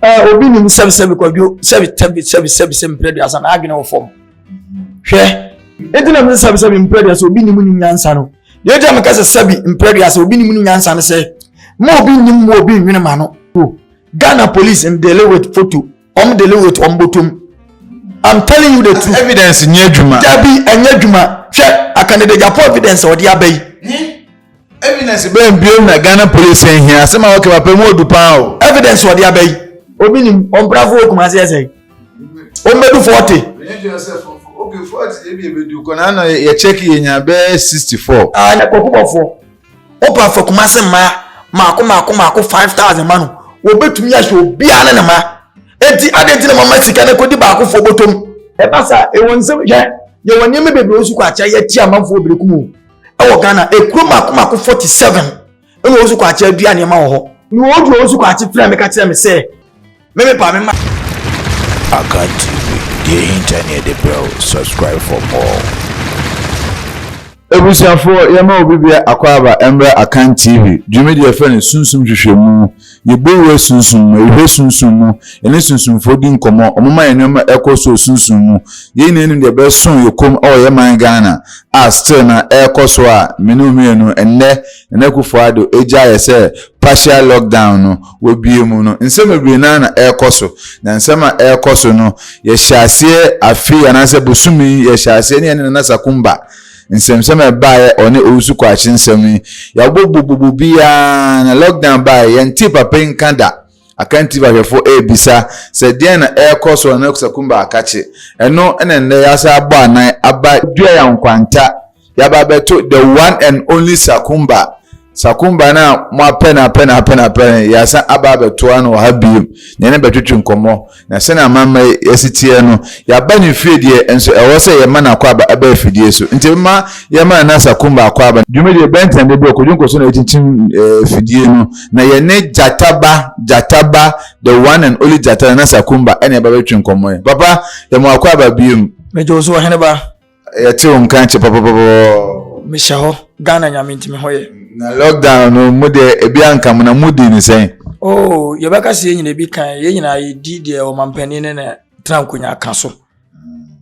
Eh, obi nim sɛbi sɛbi kwadwo sɛbi sɛbi sɛbi sɛbi sɛbi mpere duasa na adwene wɔ fam hwɛ eti na mi sɛbi sɛbi mpere duasa obi nim ni nyansa no deɛ eti na mi kasa sɛbi mpere duasa obi nim ni nyansa no sɛ mo obi nim mo obi nwene ma no o Ghana police n dele with photo wɔn dele with wɔn bɔtɔm I'm telling you the truth. evidence nyɛ adwuma. dabi ɛnyɛ adwuma hwɛ akanede japo evidence ɔde abɛyi. Evidence bɛn biom na Ghana police nhia? Asɛm a wɔka papa mu odu paa o. Evidence wɔde aba yi, obi nim ɔmprafo wɔ Kumasi yɛ sɛn? Ɔmmedu forty. Okay, forty ebi ebedu kɔ na ano yɛ check yɛ nya bɛɛ sixty four. Ah, na kɔkɔ bɔfoɔ. Wopɛ afa Kumasi mmaa mako mako mako five thousand ma no, wɔbɛtumi ahyɛ obiara ne ne ma. Eti adɛn ti na mama sika no kɔdi baakofoɔ bɔtɔm? Ɛba saa, ɛwɔ nsɛm hwɛ, yɛwɔ nneɛma bebree nso kɔ akyɛ yɛte amanfoɔ berekum o. ɛwɔ ghana ekuro mako mako forty seven ɛna osu kɔ akyɛ dua nneɛma wɔ hɔ na wɔn dua osu kɔ akyɛ fira mi ka kyerɛ mi sɛ mɛmɛ pa mi ma. Akan TV deɛ hinta ne ɛde brɛ o subscribe for more. Ebusuafoɔ yɛma obi bia akɔ aba ɛmbrɛ Akan TV dwumadie a yɛfrɛ no sunsum hwehwɛmu. Yɛbɔwura sunsum mu, yɛhwɛ sunsum mu, yɛne sunsumfoɔ di nkɔmmɔ, wɔma yɛn nneɛma ɛkɔ so wɔ sunsum mu. Yei nyinaa nim deɛ ɛbɛso yɛn kɔn mu wɔ yɛn man Ghana a still no ɛrekɔ so a me ne wo mmienu ɛnnɛ Nana Akufo-Addo agya yɛ sɛ partial lock down no wɔabue mu no. Nsɛm bebree no ara na ɛrekɔ so na nsɛm a ɛrekɔ so no yɛhyɛɛ aseɛ afe yi anaasɛ bosome yi yɛhyɛɛ aseɛ ne yɛne Nana Sakumba nsɛmnsɛm a ɛbaeɛ ɔne Owusu Kwakye nsɛm yi, yɛabobɔ bobobo biara na lockdown baeɛ yɛntee papa yi nka da. Akan TV ahwɛfo rebisa sɛ deɛn na ɛrekɔ so na Nekusa Kumba akakye. Ɛno na nnɛ yɛasan abɔ anan aba Duayan Nkwanta, yɛaba abɛto the one and only Sakumba Sakumba no a moapɛ no apɛ no apɛ no apɛ no, yɛasan aba abɛtoa no wɔ ha bio na yɛne no bɛtwetwe nkɔmmɔ, na sɛnea amammerɛ yi asi teɛ no, yɛaba no fie deɛ, nso ɛwɔ sɛ yɛma no akwaaba ɛba afidie so. Nti momma yɛmma Nana Sakumba akwaaba no. Dwumadie bɛn tena de berɛ Kojo nkɔ so na ɛkyinkyim afidie no, na yɛne Gyata ba, Gyata ba, the one and only Gyata, Nana Sakumba, ɛna ɛba bɛtwetwe nkɔmmɔ yi. Papa, yɛma wo akwaaba bio. Megye wo so, Ɔhene ba. yɛte wo nka kyɛ papapapapɔ mehyɛ hɔ ghana nyame nti me hɔ yɛ na lockdown no mu deɛ ebi anka mo na modi ne sɛn oh yɛbɛka sɛ yɛn nyina bi kan yɛn nyina yɛdi deɛ ɔmampanin ne na tena nkonya ka so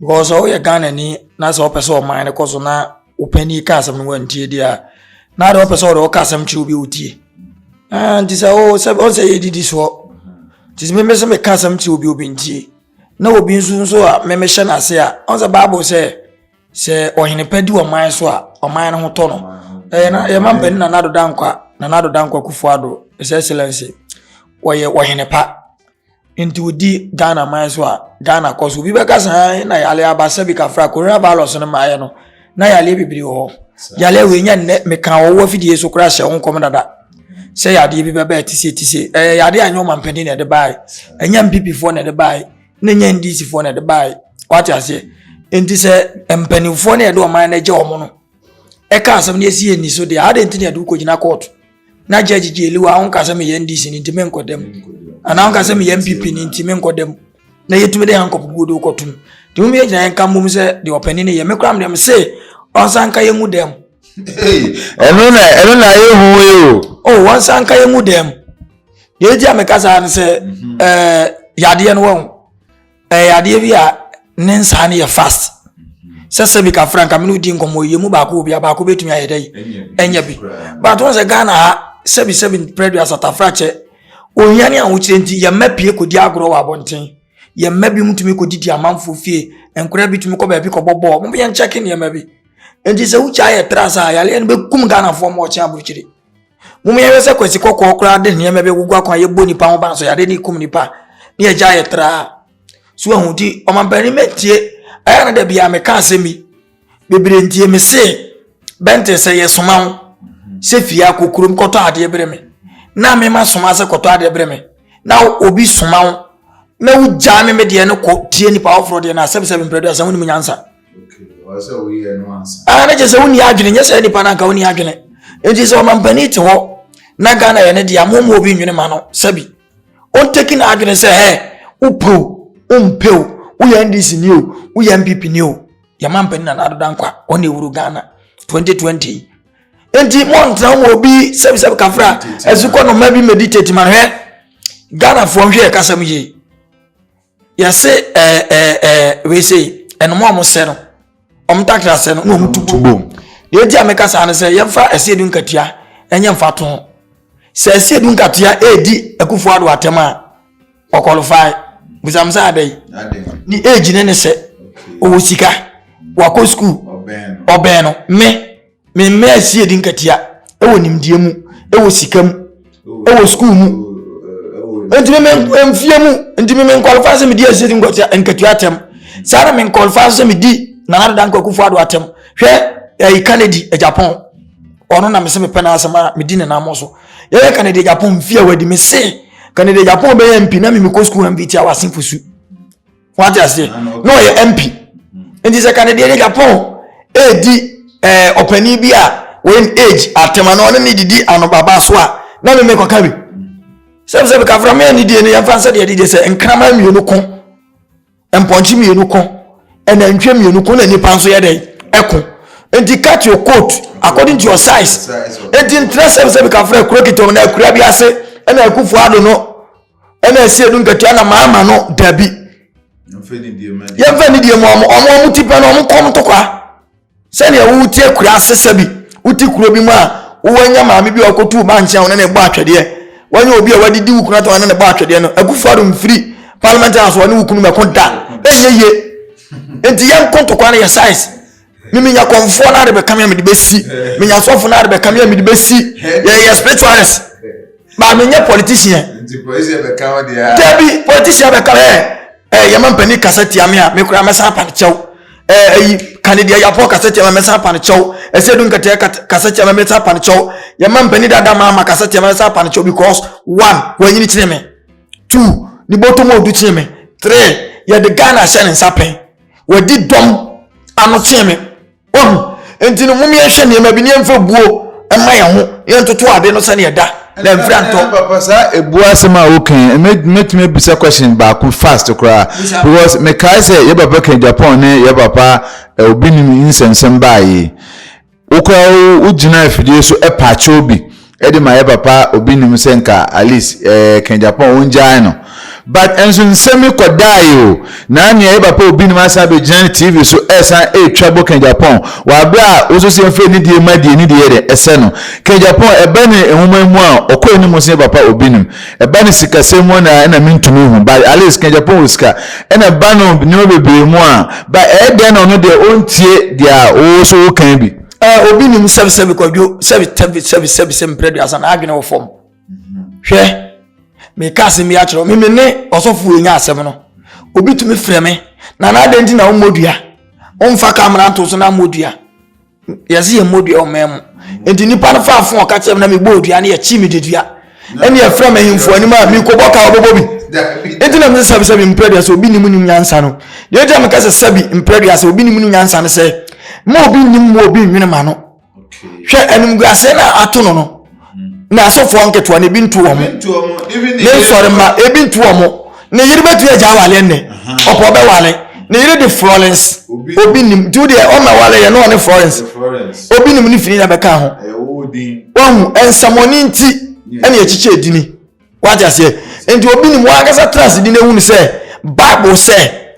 because sɛ woyɛ ghana ni na sɛ wopɛ sɛ ɔman no kɔ so na wopani ka asɛm no wantie deɛ a na de wopɛ sɛ wode woka asɛm kyerɛ obi a wotie nti sɛ wo sɛ ɔn sɛ yɛdidi soɔ nti sɛ meme sɛ meka asɛm kyerɛ obi obi ntie Na obi nso nso a me mehyɛ no ase a ɔn sɛ bible sɛ sɛ ɔhene pa di ɔman so a ɔman no ho tɔ no ɛyɛ na yɛma mpanin na nado dankwa na nado dankwa kufu ado his excellence ɔyɛ ɔhene pa nti odi ghana man so a ghana kɔ so obi bɛka saa na yale aba sɛbi kafra coronavirus no maayɛ no na yareɛ bebree wɔ hɔ yareɛ wei nyɛ nnɛ meka wɔwɔ afidie so koraa hyɛ wo nkɔm dada sɛ yadeɛ bi bɛbɛɛ te se te se ɛyɛ yadeɛ a ɛnyɛ ɔmampanin na ɛde baeɛ ɛnyɛ mpipifoɔ na ɛde baeɛ ne nyɛ ndisifoɔ na ɛde baeɛ wate aseɛ nti sɛ mpanimfoɔ no ɛde ɔman no agya wɔn no ɛka asɛm no ɛsi yɛ nni so deɛ adɛn nti na ɛde wokɔgyina kɔɔto na judge gyeli wa wonka sɛ meyɛ ndc no nti menkɔ dɛm anaa wonka sɛ meyɛ mpp no nti menkɔ dɛm na yɛtumi de hankɔp guo de wokɔ tom nti mom yɛgyina yɛnka mmom sɛ deɛ ɔpani no yɛ me koraa mdeɛ mese ɔnsa nka yɛ mu dɛm ɛno na ɛno na ayɛ hu yi o o oh, ɔnsa nka yɛ mu dɛm deɛ ɛgya meka saa no sɛ mhm. eh, yadeɛ no wɔ ho Ɛyɛ adeɛ bi a ne nsaa no yɛ fast sɛ sɛ bi kafra nka mene wodi nkɔmmɔ yɛ mu baako wɔ bi a baako bɛtumi ayɛ dɛ ɛnyɛ bi but wɔn sɛ ghana ha sɛbi sɛbi prɛdu asatafra kyɛ ohia ne ahokyerɛ nti yɛmma pie kɔdi agorɔ wɔ abɔnten yɛmma bi mu tumi kɔdidi amanfoɔ fie nkora bi tumi kɔ baabi kɔbɔ bɔɔl mo yɛn kyɛke nneɛma bi nti sɛ wogya yɛ tra saa yareɛ no bɛkum ghanafoɔ ma ɔkyɛn aburukyire Mom yɛhwɛ sɛ kwasi kɔkɔɔ koraa de nneɛma bi agugu akwan yɛbɔ nipa ho ban so yɛade ne kum nipa ne yɛgya yɛ traa so ahu nti ɔmampanin mɛntie ɛyɛ na da bia meka asɛm bi bebree ntie me se bɛnte sɛ yɛsoma ho sɛ fie akɔ kurom kɔtɔ adeɛ berɛ me na mema soma sɛ kɔtɔ adeɛ berɛ me na obi soma ho na wogyaa me me deɛ no kɔ tie nipa foforɔ deɛ no asɛm sɛ memprɛ do asɛm wonim nyansa Ah, na kyerɛ sɛ wonni adwene nyɛ sɛ nipa no anka wonni adwene nti sɛ ɔmampanin te hɔ na ghana yɛ ne deɛ momu obi nwene ma no sɛbi ɔntaki no adwene sɛ hɛ wopɛ o wompɛ o woyɛ ndc ni o woyɛ mpp ni o yɛma mpanin na n'adoda nkwa ɔne ewuro ghana 2020 nti mɔntena mu obi sɛbisɛbi kafra ɛsukɔ no mma bi meditate ma no hɛ ghanafoɔ nhwɛ yɛ kasɛm yie yɛse ɛɛ eh, ɛɛ eh, ɛɛ eh, wei sei ɛnum a wɔsɛ no wɔn takra sɛ no na wɔn tu bom deɛ eti a meka saa no sɛ yɛmfa ɛsɛ edu nkatua ɛnyɛ mfa to ho sɛ ɛsɛ edu nkatua edi akufo ado atɛm a ɔkɔlifai bisamsa adai ne age ne ne sɛ ɔwɔ sika wakɔ sukuu ɔbɛn no me. Me mma asi adi nkatia wɔ nimdeɛ mu, wɔ sika mu, wɔ sukuu mu. Nti me mfie mu, nti me nkɔlfa sɛ medi asi adi nkatia atɛm. Saa na me nkɔlfa sɛ medi Nana Adada Nkwakufo Ado atɛm. Hwɛ ɛyi Kennedy Japan. Ɔno na mese mepɛ n'asɛm a medi ne nam so. Yɛyɛ Kennedy Japan mfie a wadi me se Kennedy Japan bɛyɛ mpi na me mekɔ sukuu MVT a wase fosu. wate aseɛ na ɔyɛ mp nti sɛ kanedeɛ ne japan ɛredi ɛɛ ɔpanin bi a wɔn age atɛm ano ɔne ne didi anobaba so a na meme kɔka bi sɛm sɛ mekafra me ani die no yɛmfa nsɛ deɛ dedeɛ sɛ nkrama mmienu ko mpɔnkye mmienu ko ɛnantwie mmienu ko na nipa nso yɛ dɛn ɛko nti cut your coat according to your size nti ntina sɛm sɛ mekafra kuro kitɔm na akura bi ase ɛna akufoɔ ado no ɛna ɛsɛ ɛdu nkatua na maa ma no dabi yɛmfa ne deɛ mu ɔmo ɔmo ɔmo ti pɛ no ɔmo kɔm tokwa sɛdeɛ wo ti akura asesa bi wo ti kuro bi mu a wowanya maame bi a ɔkɔtu ba nkyɛn a ɔne ne bɔ atwɛdeɛ wanya obi a wadidi wo kunu atɛn ɔne ne bɔ atwɛdeɛ no akufo ado mfiri parliament house ɔne wo kunu mɛko da ɛnyɛ yie nti yɛn kɔntɔkwa no yɛ size me menya kɔmfoɔ no ade bɛka me a mede bɛsi menya sɔfo no ade bɛka me a mede bɛsi yɛyɛ spiritualist baa menyɛ politician dabi politician bɛka me ɛ yɛma mpani kasa tia me a mekora mɛsan apane kyɛw ayi kane deɛ yɛapɔ kasa tia me mɛsan apane kyɛw ɛsɛ du nkɛtɛ kasa tia me mɛsan apane kyɛw yɛma mpani dada ma ama kasa tia me mɛsan apane kyɛw because one wɔanyini kyene me two ne bɔtɔm ɔdu kyene me three yɛde ghana hyɛ ne nsa pɛn wɔadi dɔm ano kyɛn me wɔhu nti no mom yɛnhwɛ nneɛma bi ne yɛmfa buo ɛma yɛn ho yɛntoto ade no sɛdeɛ ɛda na mfira ntɔ. papa saa ebu asɛm a wokan mɛtumi abisa question baako fast koraa because mekae sɛ yɛ papa kan japan ne yɛ papa eh, obi nim nsɛmsɛm baa yi Wokɔ a wogyina afidie so paakyɛw bi de ma yɛ papa obi nim sɛ nka at least ɛka Japan wɔngyae no but nso nsɛm yi kɔdaeɛ o na nea yɛ papa obi nim asan bɛgyina ne TV so ɛsan ɛretwa bɔ ka Japan wɔ aberɛ a woso sɛ mfɛ ne die ma die ne deɛ yɛ dɛ ɛsɛ no ka Japan ɛba ne nwoma mu a ɔkɔ anim sɛ yɛ papa obi nim Ɛba no sikasɛm mu na ɛna mentumi nhu but at least ka Japan wɔ sika ɛna ba no nneɛma bebree mu a ba ɛyɛ dɛn na ɔno deɛ ɔntie deɛ a ɔwɔ so wokan bi. Eh, obi nim sɛbi sɛbi kwadwo sɛbi tɛbi sɛbi sɛbi sɛ mprɛ duasa na adwene wɔ fam hwɛ meka asɛm bi akyerɛ me me ne ɔsɔfo ɛnya asɛm no obi tumi frɛ me na na adɛn nti na wommɔ dua womfa kamera nto so na mmɔ dua yɛse yɛmmɔ dua wɔ man mu nti nipa no faa fon ɔka kyerɛ me na mebɔɔ dua no yɛkyi me dedua ɛne yɛfrɛ me ahemfo anim a mekɔbɔ ka wɔbɛbɔ bi nti na mese sɛbi sɛbi mprɛ dua sɛ obi nim nim nyansa no deɛ ɛgya meka sɛ sɛbi mprɛ dua sɛ obi nim nim nyansa no sɛ ma obi nim mu obi nwene ma no hwɛ animguaseɛ no a ato no no na asɔfoɔ nketewa no ebi ntu wɔn ne nsɔremma ebi ntu wɔn ne yere bɛtumi agya awale nnɛ ɔpɔ bɛwale ne yere de florence obi nim nti wo deɛ ɔma wale yɛ ne ɔne florence obi nim ne fini na bɛka ho wahu nsamɔne nti ɛne akyikyɛ edini wagya seɛ nti obi nim wɔn ankasa tena ase di na ehu ne sɛ bible sɛ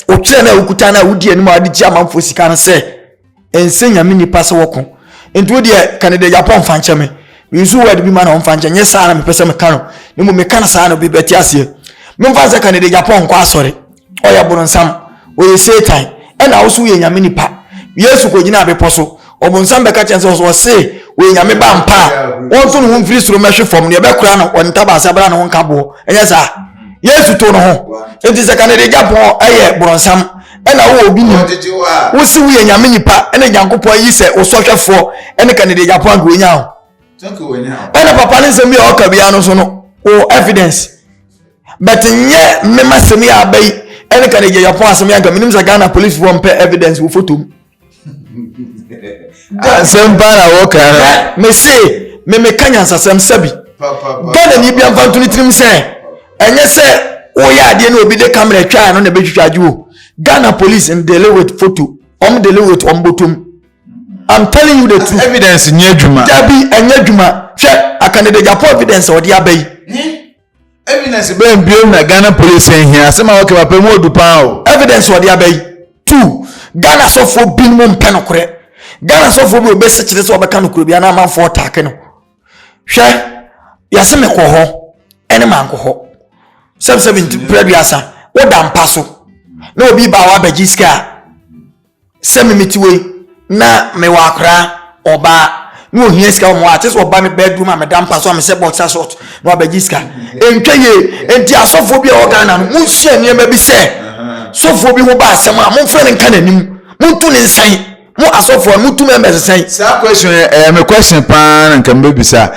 otwerɛ na okuta na odi anim a ɔde gye amanfoɔ sika no sɛ. ɛnsɛ nyame nipa sɛ wɔko nti wo deɛ ka ne deɛ yɛapɔ mfa nkyɛ me mensu word bi ma na ɔmfa nkyɛ nyɛ saa na mepɛ sɛ meka no na mmom meka no saa no bi bɛte aseɛ memfa sɛ ka ne deɛ yɛapɔ nkɔ asɔre ɔyɛ boronsam ɔyɛ satan ɛna wo so woyɛ nyame nipa yesu kɔgyina abepɔ so ɔbonsam bɛka kyɛn sɛ ɔse wɔyɛ nyame ba mpa a wɔnto ne ho mfiri soro mɛhwe fam neɛ ɛbɛkora no ɔne tabaase abra ne ho nka boɔ ɛnyɛ saa yesu to no ho nti sɛ ka ne deɛ yɛapɔ ɛyɛ boronsam ɛna wowɔ obi nim wosi woyɛ nyame nipa ɛna nyankopɔn ayi sɛ wo sɔhwɛfoɔ ɛne kanede gyapo anka wɔnya ho ɛna papa ne nsɛm bi a ɔka biara no so no wo evidence but nyɛ mema sɛm yi aba yi ɛne kanede gyapo asɛm yɛ anka menim sɛ ghana policefoɔ mpɛ evidence wo fotom asɛm paa na wɔka mese me meka nyansasɛm sɛbi ghanani bia mfa nto ne tirim sɛ ɛnyɛ sɛ woyɛ adeɛ ne obi de camera twaa no na ɛbɛtwitwa agye o ghana police and dele with photo ɔm dele with ɔm bɔtom i'm telling you the truth evidence nyɛ adwuma dabi ɛnyɛ adwuma hwɛ akanede japo evidence ɔde aba yi Evidence bɛn biom na Ghana polisi nhia? Asɛm a wɔka papa mu odu paa o. Evidence wɔde aba yi. Two, Ghana sɔfoɔ binom mpɛ nokorɛ. Ghana sɔfoɔ bi obɛsi kyerɛ sɛ ɔbɛka nokorɛ bi na amanfoɔ ɔtaake no. Hwɛ, yɛse mekɔ hɔ ɛne mankɔ hɔ. Sɛbsɛbi nti prɛduasa woda mpa so na obi ba a wabɛgye sika a. Sɛ me mete hɔ yi na mewɔ akoraa, ɔbaa, na ohia sika wɔ me hɔ a, te sɛ ɔba me bedroom a meda mpa so a mehyɛ boxer short na wabɛgye sika. Ɛntwa yie. Enti asɔfoɔ bi a ɛwɔ Ghana no, monsua nneɛma bi sɛ, sɔfoɔ bi ho ba asɛm a, momfrɛ no nka n'anim. Montu ne nsan. Mo asɔfoɔ no, motu members nsan. Saa question yi ɛyɛ me question paa na nka mebisa.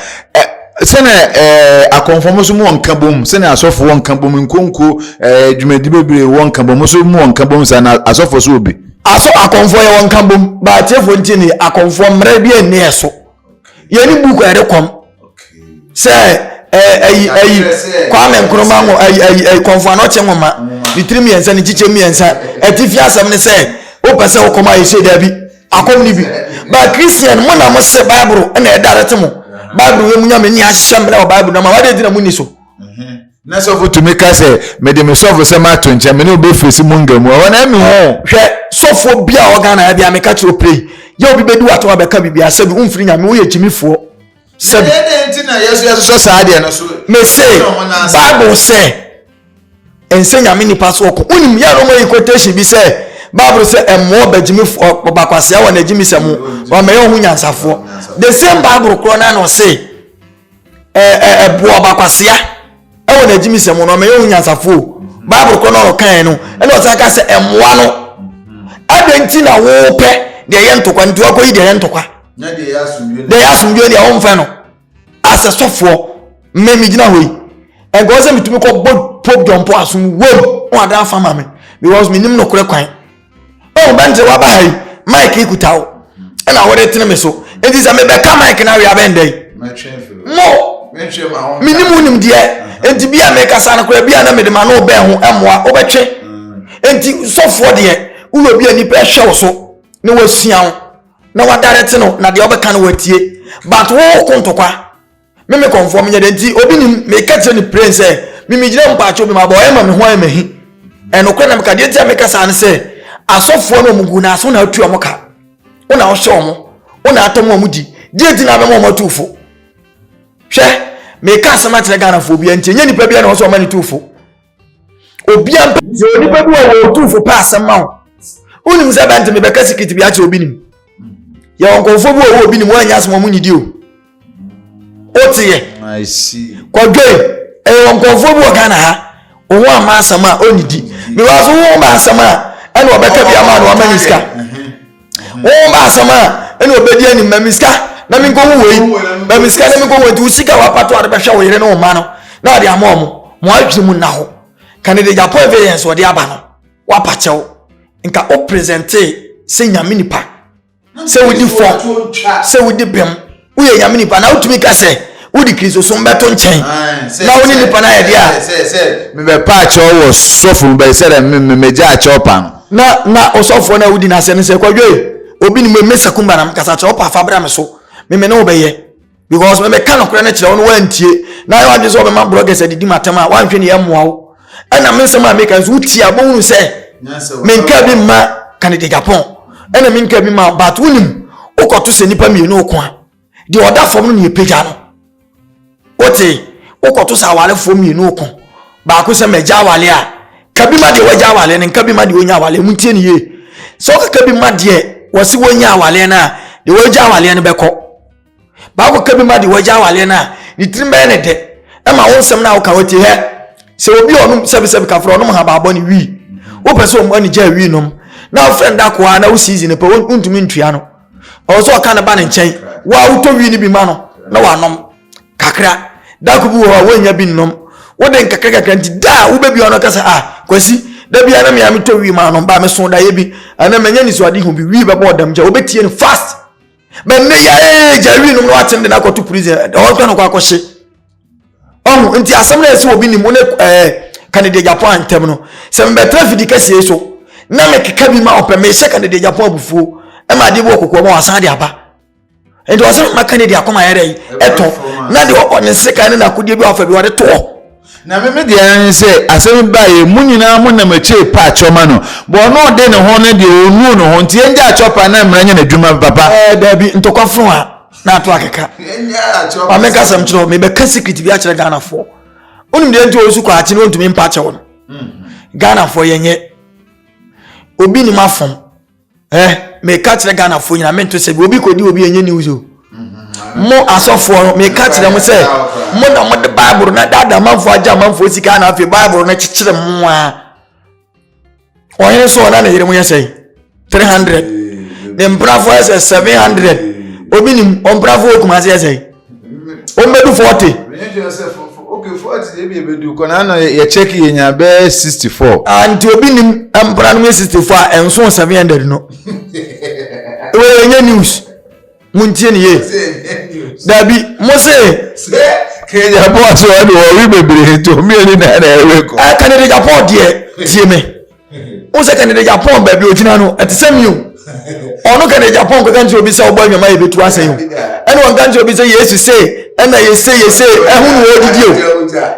sɛnea ɛɛ akɔnfɔm so mu wɔ nkabom sɛnea asɔfo wɔ nkabom nkonko ɛɛ dwumadi bebree wɔ nkabom so mu wɔ nkabom saa na asɔfo so obi. aso akɔnfɔ yɛ wɔ nkabom baatiefo nti ni akɔnfɔ mmerɛ bi ɛni ɛso yɛ ni buku ɛde kɔm sɛ ɛɛ ɛyi ɛyi kwame nkrumah ŋo ɛyi ɛyi ɛyi kɔnfɔ anɔkye ŋoma ne tiri mmiɛnsa ne kyikyɛ mmiɛnsa ɛtifi asɛm ne sɛ o pɛ sɛ o kɔm a yɛ hyɛ dɛbi. Akɔm ni bi. Ba Christian mo na mo se Bible na ɛdarete mo. Bible wɔ mu nyame ni ahyehyɛ mmerɛ wɔ Bible na ma wade di na mo ni so. Mhm. Na sɔfo tumi ka sɛ mede me sɔfo sɛ mato nkyɛn me ne obe fesi mu nga mu ɛhɔ na ɛmi ho. Hwɛ sɔfo bi a ɔga na ɛbi ameka kyerɛ opere yɛ obi bedi wato abɛka bibi asɛ bi womfiri nyame woyɛ gyimifoɔ sɛ bi. Yɛde nti na yɛso yɛsosɔ saa deɛ no so. Mese Bible sɛ. Ɛnsɛ Nyame nnipa so ɔko. Wonim yɛ Roma yi quotation bi sɛ Bible sɛ ɛmmoɔ bagyimifo ɔbakwasia wɔ n'agyimisɛm ho wɔmɛyɛ ɔho nyansafoɔ. The same Bible korɔ na na ɔse ɛboɔ ɔbakwasia ɛwɔ n'agyimisɛm ho na wɔmɛyɛ ɔho nyansafoɔ. Bible korɔ na ɔkae no ɛna ɔsan ka sɛ ɛmmoa no. Adɛn nti na wopɛ deɛ ɛyɛ ntokwa nti wakɔyi deɛ ɛyɛ ntokwa? Deɛ ɛyɛ asomdwoe deɛ wɔmfɛ no. As a sɔfoɔ, me me gyina hɔ yi, ɛnkɔɔ sɛ metumi kɔ bɔ Pope John Paul asom wom wɔn adan afa ma me because me nim nokorɛ kwan. Ɔn bɛntere waba ha yi, mic yi kuta wo, ɛna wɔde tene me so. Enti sɛ mebɛka mic no awie abɛndɛn. Mo, me nim wo nim deɛ, enti bi a mekasa no koraa bi a na mede ma no bɛn ho ɛmmoa, wobɛtwe. Enti sɔfoɔ deɛ, woyɛ obi a nipa ɛhwɛ wo so na wɔasua wo. na wadarete no na deɛ ɔbɛka no watie but wo ko ntokwa me me kɔnfoɔ menyɛ dɛ nti obi nim meka kyerɛ ne pren sɛ mimigyina mpaakyɛ obi ma bɔ ɔyɛ ma me ho ayɛ mahi ɛnokorɛ na meka deɛ nti a meka saa ne sɛ asɔfoɔ no ɔmo gu na aso na atu ɔmo ka wo na wohyɛ ɔmo wo na atɔ mo ɔmo di deɛ nti na abɛma ɔmo atu fo hwɛ meka asɛm akyerɛ ghanafoɔ bi nti ɛnyɛ nipa bi na ɔsɛ ɔma ne tu fo obi ampa sɛ onipa bi wɔ wɔ otumfo pa asɛm ma wo wonim sɛ bɛnte mebɛka sikiti bi akyerɛ obi nim yɛwɔ nkɔmfoɔ bi wɔ wɔ obi nim woanyɛ asɛm ɔmo nyidi o woteɛ kɔdwoi ɛyɛ wɔ nkɔmfoɔ bi wɔ ghana ha wo ho ama asɛm a ɔnyidi mewɔ so wo ho ma asɛm a ɛna ɔbɛka bi ama no wama ne sika wɔn ba asɛm a ɛna ɔbɛdi anim ma me sika na me nkɔhu wei ma me sika na me nkɔhu nti wo sika wapato ade bɛhwɛ wo yere ne wo ma no na ɔde ama ɔmo mo adwene mu nna hɔ ka ne de gya po evidence ɔde aba no wapakyɛw nka o presente sɛ nyame nipa sɛ wodi fɔ sɛ wodi bɛm woyɛ nyame nipa na wotumi ka sɛ wode kristosom bɛto nkyɛn na wo ne nipa no ayɛ deɛ a mebɛpa akyɛw wɔ sɔfo mu bɛyɛ sɛ dɛ megya akyɛw pa no na na ɔsɔfoɔ no a wodi n'asɛm no sɛ kwadwoe obi ne me sɛ kumba na mekasa kyerɛ wopa afa bra me so meme ne wobɛyɛ because mebɛka nokorɛ no kyerɛ wo no woantie na yɛ wadwene sɛ wɔbɛma brɔgɛs adidi matam a woanhwɛ ne yɛmmoa wo ɛna me nsɛm a meka nso wotie a bɛhunu sɛ menka bi mma kanede japan ɛna menka bi ma but wonim wokɔto sɛ nnipa mmienu ɔko a deɛ ɔda fam no ne ɛpagya no wote wokɔto sɛ awarefoɔ mmienu ɔko baako sɛ magya awale a ka bi ma deɛ wagya awale no nka bi ma deɛ ɔnya awale mu ntie ne yie sɛ wokaka bi ma deɛ wɔse wɔnya awale no a deɛ wagya awale no bɛkɔ baako ka bi ma deɛ wagya awaleɛ no a ne tirim bɛyɛ ne dɛ ɛma wo nsɛm no a woka wɔti hɛ sɛ obi a ɔnom sɛbisɛbi kafra ɔnom habaabɔ ne wii wopɛ sɛ ɔmɔ ne gyaa wii nom na wofrɛ no da koa na wo season pɛ wontumi ntua no ɔwɔ sɛ ɔka ne ba ne nkyɛn wo a wotɔ wii no bi ma no na wanom kakra dako bi wɔ hɔ a woanya bi nnom wode nkakrakakra nti da a wobɛbi ɔno kasa a ah, kwasi da bia na mea metɔ wii ma anom ba meso daeɛ bi ɛna manya nisuade hu bi wii bɛbɔ ɔdam gya wobɛtie no fast bɛ ne yɛ ee gya wi nom na watem de no akɔto prison ɛdɛ hɔ nka no kɔ akɔhye ɔho nti asɛm no a ɛsɛ obi nim wo ne ɛɛ kanede japan ntɛm no sɛ mebɛtena fidi kɛseɛ so na mekeka bi ma ɔpɛ mehyɛ kanede japan abufuo ɛma adeɛ bi wɔ kɔkɔɔ ma wasan de aba nti ɔsɛ mma kanede akɔma yɛdɛ ɛtɔ na deɛ ɔne sekan ne nakodeɛ bi wafa bi wɔde toɔ Na me me deɛ ara ne sɛ asɛm yi baeɛ mo nyinaa mo nam akyire pa akyɛ ɔma no bɔ ɔno ɔde ne ho no deɛ ɔnuu ne ho nti yɛngya akyɛ ɔpa na mmara nyɛ n'adwuma papa. Ɛɛ daabi ntɔkwa fon a na ato akeka ma menka sɛm kyerɛ wo mebɛka secret bi akyerɛ Ghanafoɔ wonim deɛ nti ɔsu kɔ akye no ɔntumi mpa kyɛw no Ghanafoɔ yɛnyɛ obi nim afom ɛ meka kyerɛ ghanafoɔ nyina mento sɛ obi kɔdi obi ɛnyɛ news o mm-hmm. mo asɔfoɔ no meka kyerɛ mo sɛ mo na mode bible na dada amanfoɔ agye amanfoɔ sika na afei bible no kyekyere mo a ɔhene so ɔna ne yere mo yɛ sɛn 300 ne mprafoɔ yɛ sɛ 700 obi nim ɔmprafoɔ ɔkuma se yɛ sɛn wɔbɛdu forty. mene twɛ sɛ fofo ok forty deɛ bi ɛbɛdu kɔ na ano yɛ check yɛ nya bɛɛ sixty four. ah nti obi nim mpana no mu yɛ sixty four a ɛnso seven hundred no ɛwɔ yɛ nyɛ news mo n tie ne yie dabi mo se. sɛ kenya bɔ aso ɛna wɔwe bebree to mmienu na ɛna ɛwe kɔ. ɛka ne de japɔ deɛ tie me. o sɛ kɛnede japan baabi ogyina no ɛte sɛ mi o ɔno kɛnede japan kɔka nkyerɛ obi sɛ ɔbɔ adwuma yɛ bɛtu asɛn o ɛna ɔnka nkyerɛ obi sɛ yesu se ɛna yɛse yɛse ɛho ne wɔdidi o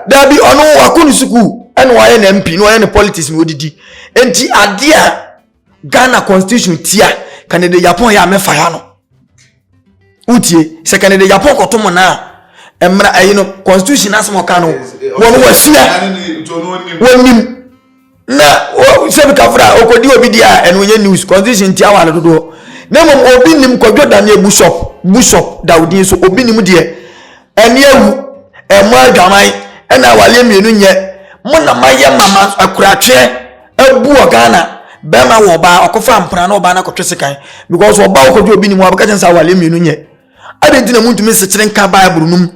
daabi ɔno wakɔ ne sukuu ɛna wayɛ ne mp na ɔyɛ ne politics na ɔdidi nti adeɛ a ghana constitution tia kɛnede japan yɛ a mɛfa ya no wotie sɛ kane de yɛapɔ kɔto mo no a mmara ɛyi no constitution asɛm ɔka no wɔn wɔasua wɔnim na sɛbi kafra a ɔkɔdi obi deɛ a ɛno yɛ news constitution ntia wɔ ale dodoɔ na mmom obi nim kwadwo daneɛ bushop bushop dawodin so obi nim deɛ ɛne awu ɛmo adwaman ɛna awaleɛ mmienu nyɛ mo na mayɛ mama akuratweɛ abu wɔ ghana bɛrima wɔ ɔbaa ɔkɔfa mpena na ɔbaa no akɔtwe sekan because ɔbaa ɔkɔdwe obi ne mu abɛka kyɛn sɛ awale mmienu nyɛ adɛn nti na muntumi nsekyere nka bible no mu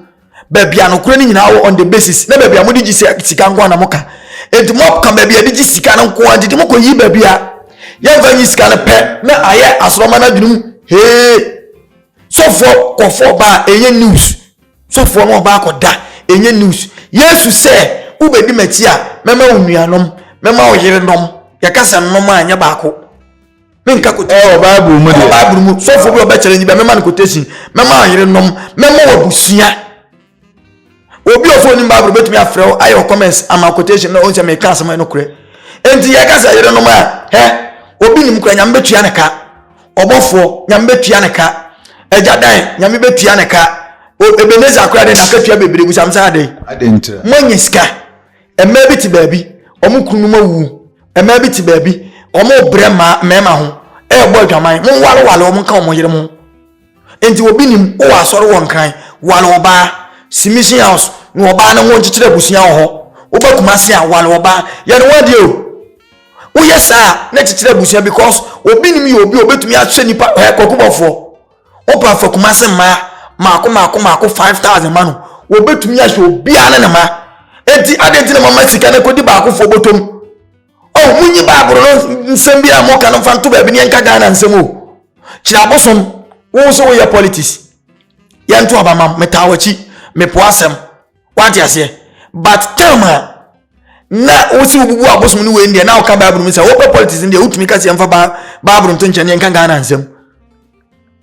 baabi a nokorɛ no nyinaa wɔ on the basis na baabi a mode gye sika nko a na moka enti moka baabi a de gye sika no nko a nti de mokɔyi baabi a yɛmfa nyi sika no pɛ na ayɛ asorɔma no adwene mu hee sɔfoɔ kɔfoɔ baa ɛnyɛ news Sɔfoɔ no ɔba akɔda, ɛnyɛ news. Yesu sɛ, wobɛdi m'akyi a, mɛma wo nuanom, mɛma wo yerenom. Yɛka sɛ nom a, ɛnyɛ baako. Menka quotation. Ɛwɔ Bible mu deɛ. Ɛwɔ Bible mu. Sɔfoɔ bi ɔbɛkyerɛ nyi bɛ, mɛma no quotation, mɛma wo yerenom, mɛma wo abusua. Obi ɔsɔ onim Bible bɛtumi afrɛ wo ayɛ comments ama quotation na ɔhu sɛ meka asɛm a ɛnokorɛ. Enti yɛka sɛ yerenom a, hɛ, obi nim kora nyame bɛtua ne ka. ɔbɔfoɔ nyame bɛtua ne ka agya dan nyame bɛtua ne ka ebeneza akora de n'akatua bebree gu sam saa de moanya sika mmaa bi te baabi wɔn kunu mu awu mmaa bi te baabi wɔn brɛ mmaa mmarima ho ɛrebɔ adwaman mo walewale wɔn nka wɔn yere mo nti obi nim wɔ asɔre wɔ nkran wale ɔbaa submission house na ɔbaa no ho nkyekyere abusua wɔ hɔ wobɛkuma se a wale ɔbaa yɛne wɔn adeɛ o woyɛ saa a na kyekyere abusua because obi nim yɛ obi a obetumi ahyɛ nipa ɛ kɔkɔbɔfoɔ wopa afa kumase mmaa mako mako mako five thousand ma no obetumi ahyɛ obiara ne ne ma eti adi nti na mo ama sika na kodi baakofoɔ bɔtɔm ɔ oh, mo nyi baabolo no nsɛm bi a mo ka no nfa nto baabi ne yɛn ka ghana nsɛm o kyerɛ abosom wɔn nso wɔyɛ politics yɛn to abamam metaa wɔkyi mepo asɛm. wate aseɛ but term a na wosi wobubu abosom no wei deɛ na woka bible mu sɛ wopɛ politics no deɛ wotumi ka sɛ yɛmfa bible nto nkyɛn yɛnka ghana nsɛm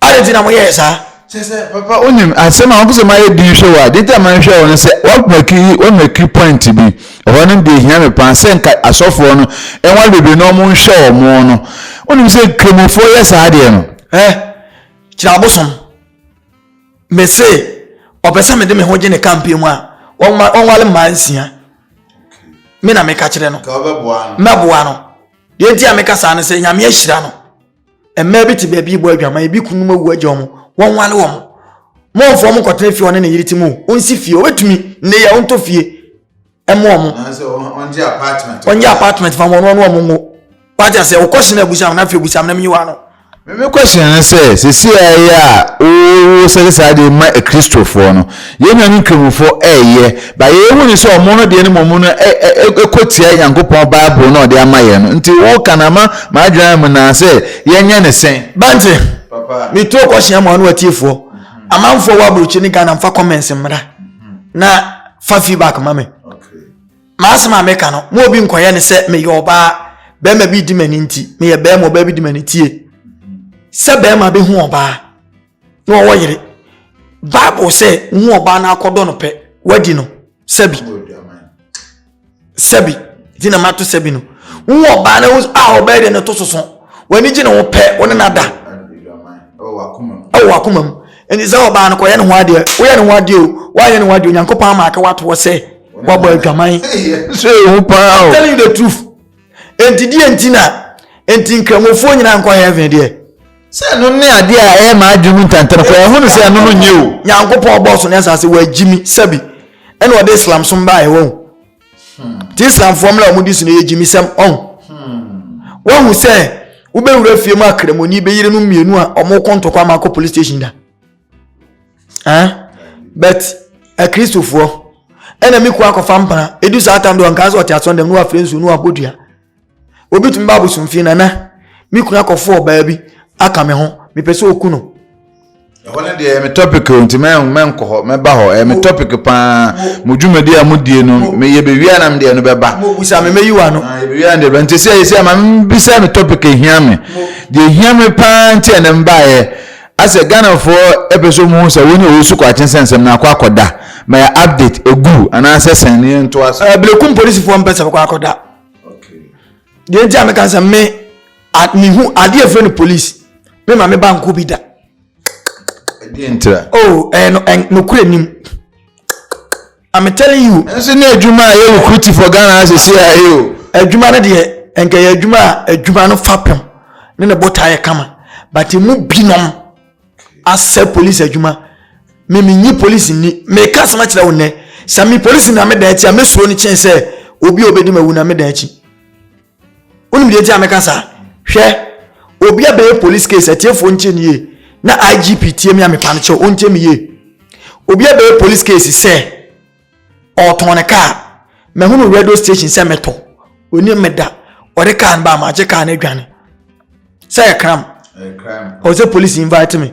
ade nti na moyɛɛ saa papa wonim asɛm a wopɛ sɛ mayɛ din hwɛ wɔ a de nti a manhwɛ wɔ no sɛ woamaki woamaki point bi ɛhɔ no deɛ hia me paa sɛ nka asɔfoɔ no ɛnwa bebree na ɔmo nhwɛ ɔmo no wonim sɛ nkramofoɔ yɛ saa deɛ no kyerɛ abosom mese ɔpɛ sɛ mede me ho gye ne campaign mu a ɔnwale mmaa nsia me na meka kyerɛ no mɛboa no deɛ nti a meka saa no sɛ nyame ahyira no mmaa bi te baabi bɔ adwama ebi kunum awu agya wɔn wɔnwale wɔn mɔmfoɔ mo kɔtena fie ɔne ne yere ti mu ɔnsi fie ɔbɛtumi nneyɛ ɔntɔ fie ɛmo ɔmo ɔngye apartment fa wɔn ɔno ɔmo ngo wagya sɛ ɔkɔ hyɛn abusam na afei abusam na mi yi wa no. mímí kɔ hyɛn no sɛ sisi a ɛyɛ a owó sɛde saa de ma akristofoɔ no yɛn nua ne nkramofoɔ ɛyɛ ba yɛyɛ hu ne sɛ ɔmo no deɛ ne mo mu no ɛkɔ tia nyankopɔn bible na ɔde ama yɛn no nti wo ka na ma ma adwene mu na sɛ yɛnyɛ ne sɛn. bante mi tuo kɔ hyɛn mu ano atiefoɔ amanfoɔ wɔ aburukyi ne ghana nfa comments mmra. na fa feedback ma me maasɛm a meka no ma obi nkɔyɛ ne sɛ meyɛ ɔbaa bɛrima bi di m'ani nti meyɛ bɛrima ɔbaa bi di m'ani tie sɛ bɛrima bɛhu ɔbaa na ɔwɔ yere bible sɛ wohu ɔbaa no akɔdɔ no pɛ wadi no sɛbi sɛbi nti na mato sɛbi no wohu ɔbaa no a ɔbɛyɛ de no to soso w'ani gye ne ho pɛ wo ne no ada ɛwɔ wakoma mu nti sɛ ɔbaa no kɔyɛ ne ho adeɛ woyɛ ne ho adeɛ o woayɛ ne ho adeɛ onyankopɔn ama aka watoɔ sɛ woabɔ adwaman so ɛhu paa o telling the truth Enti deɛ nti na enti nkramofoɔ nyinaa nkɔ heaven deɛ. Sɛ ɛno ne adeɛ a ɛyɛ maa adwene mu ntɛntɛm kɔ ɛho no sɛ ɛno no nyɛ o. Nyankopɔn ɔbɔɔ so ne asase wɔagyi mi sɛbi ɛna ɔde Islam som baeɛ wɔn. Hmm. Ti Islamfoɔ mmra wɔn di so no yɛ gyimisɛm ɔn. Hmm. Wɔn ho sɛ wobɛwura fie mu akramoni bɛyere no mmienu a wɔn kɔ ntɔkwa ama akɔ police station da. ah but akristofoɔ ɛna me kua akɔfa mpana ɛdu saa tam deɛ ɔnkaa sɛ ɔte asɔn dɛm na wafrɛ nsuo na wabɔ dua obi tumi ba abosomfie nana me kunu akɔfo ɔbaa bi aka me ho mepɛ sɛ ɔku no ɛhɔ no deɛ me topic o nti mɛnkɔ hɔ mɛba hɔ ɛyɛ me topic paa mo dwumadi a modie no meyɛ bɛwia nam deɛ no bɛba mobusa me mɛyi wa no ah, bɛwia no deɛ nti sɛ ɛsɛ ma mebisa me topic ɛhia me deɛ ɛhia me paa nti ɛnɛ mbaeɛ Asɛ Ghanafoɔ pɛ sɛ wɔhu sɛ wone Owusu Kwakye nsɛnsɛm no akɔ akɔda, ma yɛ update, ɛgu anaa sɛ sɛn na yɛntoa so. Berekum polisifoɔ mpɛ sɛ bɛkɔ akɔda. Deɛ nti a meka sɛ me mehu adeɛ ɛfrɛ no polisi me ma me ba nko bi da. Ɛdeɛ ntira. Oh, ɛyɛ no, nokorɛ nim. I'm telling you. Nso ne adwuma a yɛ recruit for Ghana as a CIA o. Adwuma no deɛ nka yɛ adwuma a adwuma no fapem ne ne botaa yɛ kama but mu binom asɛ police adwuma me menyi police nni meka asɛm akyerɛ wo nnɛ sɛ me police na meda akyi a mɛsuro no kyɛn sɛ obi a ɔbɛdi mawu na meda akyi wonim deɛ nti a meka saa hwɛ obi a bɛyɛ police case atiefoɔ ntie ne yie na igp tie me a mepa no kyɛw ɔntie me yie obi a bɛyɛ police case sɛ ɔtɔn ne kaa mahunu radio station sɛ metɔ ɔni meda ɔde kaa no ba magye kaa no adwane sɛ yɛ kram ɔsɛ police invite me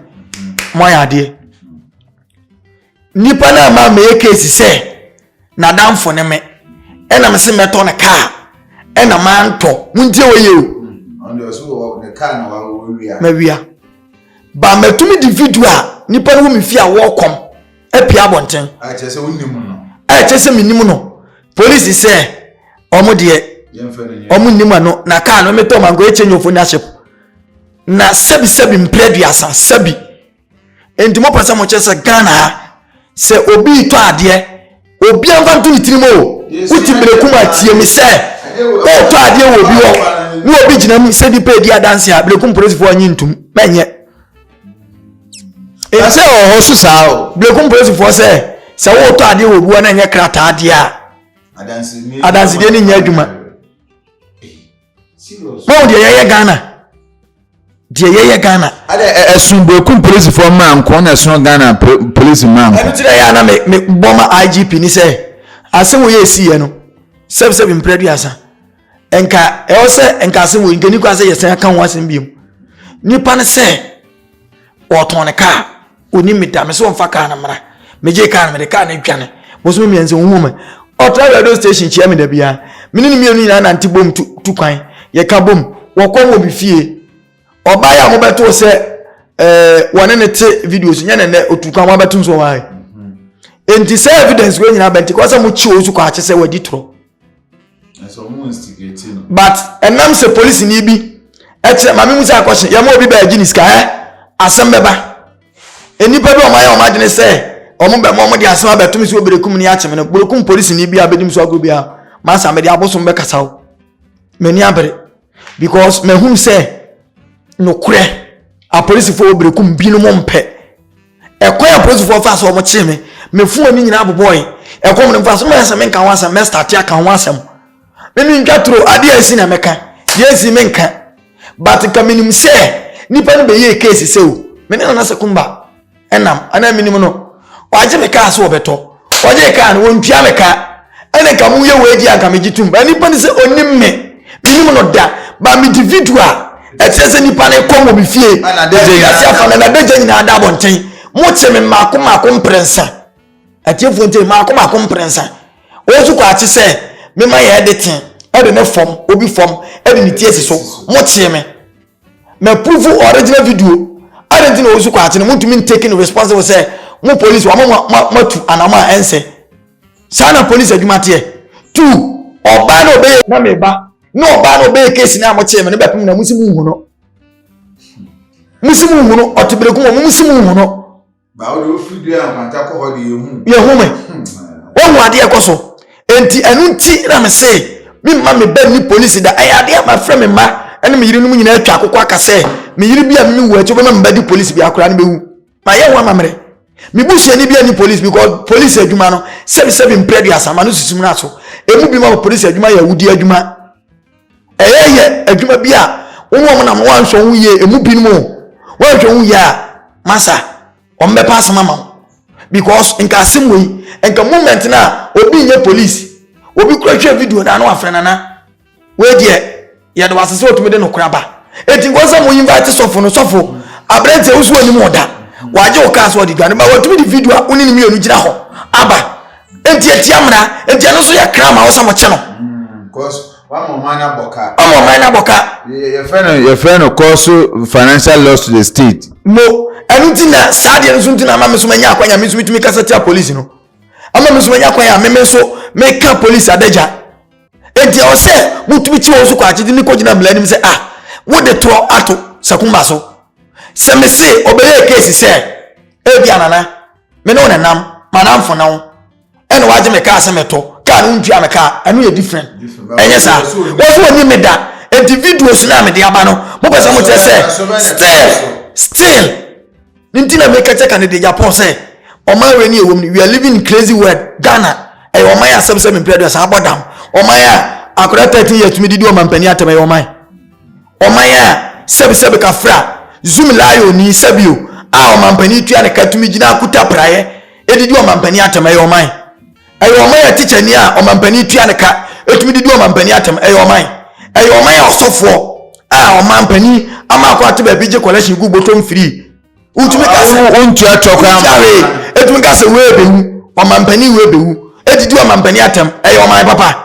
moayɛ adeɛ Nipa no ama meyɛ case sɛ n'adamfo ne me ɛna me se mɛtɔ no kaa ɛna mantɔ montie wɔ yie o. mawia ba matumi de video a nipa no wɔ me fie a wɔkɔm apia abɔnten ɛkyɛ sɛ menim no polisi sɛ ɔmo deɛ ɔmo nnim ano na kaa no metɔ mango ɛkyɛ nyɛ ɔfo nyɛ ahyɛ na sɛbi sɛbi mprɛ duasa sɛbi nti mo pɛ sɛ mo kyerɛ sɛ ghana ha sɛ obi retɔ adeɛ obi anfa nto ne tirim o wote berekum atie me sɛ wotɔ adeɛ wɔ obi hɔ ne obi gyina mu sɛ nipa edi adanse a berekum polisifoɔ anyi ntum mɛnyɛ ɛsɛ wɔ hɔ so saa o berekum polisifoɔ sɛ sɛ wotɔ adeɛ wɔ obi hɔ na ɛnyɛ krataa adeɛ a adansedeɛ no nyɛ adwuma wɔn deɛ yɛyɛ ghana deɛ yɛyɛ ghana. ɛdɛ ɛsun burokun polisifoɔ mmaa nko na ɛsun ghana polisi mmaa nko. ɛnu ti dɛ yɛ ana mi bɔ ma igp ni sɛ ase wo yɛ esi yɛ no sɛbisɛbi mpere duasa nka ɛwɔ sɛ nka ase wo nka ni kɔ ase yɛ sɛn aka ho asɛm bi mu nipa no sɛ wɔtɔn ne kaa. Ɔnim me da, me so ɔmfa kaa no mmra. Megyee kaa no, mede kaa no dwane. Bosome mmiɛnsa, ɔhuu me. Ɔtra radio station kyia me da biara. Me ne no mmienu nyinaa nante bom tu, tu kwan. Yɛka bom. Wɔkɔm wɔ me fie. Ɔbaeɛ a wɔbɛtoo sɛ eh, wɔne ne te video so, nyɛ ne nnɛ, ɔtu kwan wɔabɛto nso ɔwae. Enti sɛ evidence wei nyinaa bɛnti kɔ sɛ mokye ɔsu kɔ akye sɛ wadi torɔ. but ɛnam sɛ polisini bi kyerɛ maame mu sɛ akɔhye yɛma obi baa gye ne sika ɛ asɛm bɛba nnipa bi a wɔayɛ wɔn adwene sɛ wɔn bɛ wɔn de asɛm abɛto me sɛ oberekum ne akyem no burokum polisini bi a bɛdi mu so agorɔ bi a masa mede abosom bɛkasa o m'ani abere because mahunu sɛ nokorɛ apolisifoɔ oberekum binom mpɛ Ɛkwan a polisifoɔ faa so a wɔkyee me, me phone no nyinaa bobɔɔe. Ɛkɔm no mfa so, na wɔayɛ sɛ menka ho asɛm, mɛstate aka ho asɛm. Me mentwa turo, adeɛ a asi na mɛka, deɛ ansii menka. But nka menim sɛ nnipa no bɛyɛɛ case sɛ o, me ne Nana Sekumba nam, anaa mennim no. Wɔagye me kaa sɛ wɔbɛtɔ, Ɔgye ka no ɔntua me ka. Ɛne nka mo yɛ wei deɛ anka megye tom. But nipa no sɛ ɔnim me. Menim no da. But me di video a ɛkyerɛ sɛ nipa no kɔm wɔ me fie. Ɛfiri ase afa na nadagya nyinaa da abɔnten. Mo kye me mmaako mmaako mprɛnsa. Atiefoɔ ntie mmaako mmaako mprɛnsa. Wɔn nso kɔ akye sɛ mema yɛ ɛde ten ɛde ne fam obi fam ɛde ne ti asi so. Mo kye me. Ma purufu original video adɛn nti na wɔsu kɔ akyene montumi ntaking responsible sɛ mo police wama moatu anamɔ a ɛnsɛ saa na police adwuma teɛ tu ɔbaa na ɔbɛyɛ na meba na ɔbaa na ɔbɛyɛ case na mokyee me no bɛpem na mosi mu nhu no mosi mu nhu no ɔtebereku mu mosi mu nhu no yɛhu me wohu adeɛ kɔ so enti ɛno nti na me se memma me ba nni polisi da ɛyɛ adeɛ a mafrɛ me mma ɛne me yerenom nyinaa atwa akokɔ aka sɛ me yere bi a meme wu akyi wobɛma me ba di polisi bi akoraa no bɛwu mayɛ ho amammerɛ me busuani bi ani polisi because polisi adwuma no sɛbisɛbi mprɛ aduasa ma no susu mmra so ɛmu bi ma polisi adwuma yɛ awudi adwuma Ɛyɛ yɛ adwuma bi a wɔn a wɔnam no wɔanhwɛ wɔn yie emu binom o wɔanhwɛ wɔn yie a masa wɔn bɛpa asɛm ama wɔn because nka asɛm wɔ yi nka moment na obi nyɛ police obi kura hwɛ video na ano afrɛ nana wei deɛ yɛde wɔ asese otumi de no kora ba eti nkɔ sɛ mo invite sɔfo no sɔfo aberanteɛ wosu onim ɔda wagye wɔ kaa so ɔde dwane ba wɔtumi de video a wone ne mmienu gyina hɔ aba. nti etia mmara nti ɛno nso yɛ kra ma wɔsɛ wɔkyɛ no ɔma ɔman no abɔ ka yɛfrɛ no kɔ so financial loss to the state mo ɛno nti na saa deɛ no nso nti na ama me so manya akwanya me nso metumi kasa tia polisi no ama me nso manya akwanya me me nso meka polisi adagya enti ɛwɔ sɛ motumi kyi wɔn so kɔ akyede ne kɔgyina mmara anim sɛ ah wode torɔ ato sakuma so sɛ mese ɔbɛyɛ kesi sɛ ebi anana me ne wo nenam manamfo na wo ɛna wagye me kaa sɛ mɛtɔ kaa no ntua me kaa ɛno yɛ different ɛnyɛ saa wɔso wɔni me da nti videos no a mede aba no mopɛ sɛ mokyerɛ sɛ still still ne nti na meka kyɛ ka ne de japan sɛ ɔman wei ne ɛwɔ mu we are living in crazy world ghana ɛyɛ ɔman yɛ asɛm sɛ mempɛ aduasa abɔ dam ɔman a akora 13 yɛ tumi didi ɔmampani atɛm ɛyɛ ɔman Ɔman a sɛbesɛbe ka fra Zumi Layo ni sɛbio a ɔmanpanin tua ne ka tumi gyina kuta praeɛ ɛde di ɔmanpanin atɛm ɛyɛ ɔman ɛyɛ ɔman a tikyani a ɔmanpanin tua ne ka ɛtumi de di ɔmanpanin atɛm ɛyɛ ɔman ɛyɛ ɔman a ɔsɔfoɔ a ɔmanpanin ama akɔ ate baabi gye kɔlɛhyen gu bɔtɔm firii wotumi ka sɛ wontua tɔ koraa ma wee ɛtumi ka sɛ wee bɛwu ɔmanpanin wee bɛwu ɛdidi ɔmanpanin atɛm ɛyɛ ɔman papa.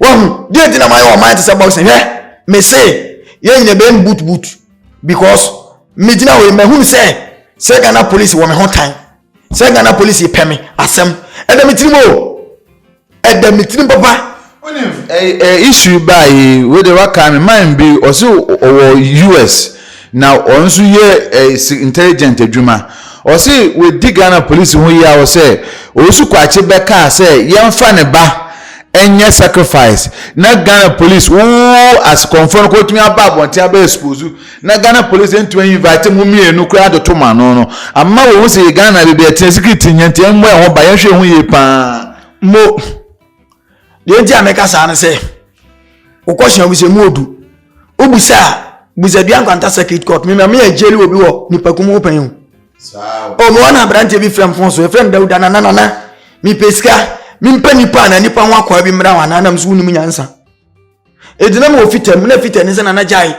wahu deɛ nti na mayɛ ɔman te sɛ boxing hwɛ me se yɛn nyina bɛn boot boot because megyina hɔ yi mahunu sɛ sɛ ghana police wɔ me ho tan sɛ ghana police pɛ me asɛm ɛda me tirim o ɛda me tirim papa issue baa yi wei de waka me man bi ɔse ɔwɔ us Na ɔno nso yɛ intelligent adwuma. Ɔse wadi Ghana polisi ho yaw sɛ Owusu Kwakye bɛkaa sɛ yɛmfa ne ba nyɛ sacrifice na Ghana polisi wo asekɔmfoɔ no kɔtumi aba abɔnten abɛ expose na Ghana polisi ntumi invite mo mmienu koraa atoto mo ano no ama wahu sɛ yɛ Ghana baabi ɛteɛ security hia nti ɛmmɔ yɛn ho ba yɛnhwɛ yɛn ho yie paa mo deɛ nti a mɛka saa no sɛ wokɔhyɛ obi sɛ mu odu wobusa a busadua nkwanta circuit court mema me agyeli obi wɔ nipaku mu wopɛn o ɔmo wɔn aberanteɛ bi frɛ mfon so ɛfrɛ no dawuda nana nana mepɛ sika mempɛ nipa na nipa ho akwaa bi mmra wɔn anaa nam so wonim nyansa Ɛgyina mu wɔ fita mu na fita ni sɛ nana gyae.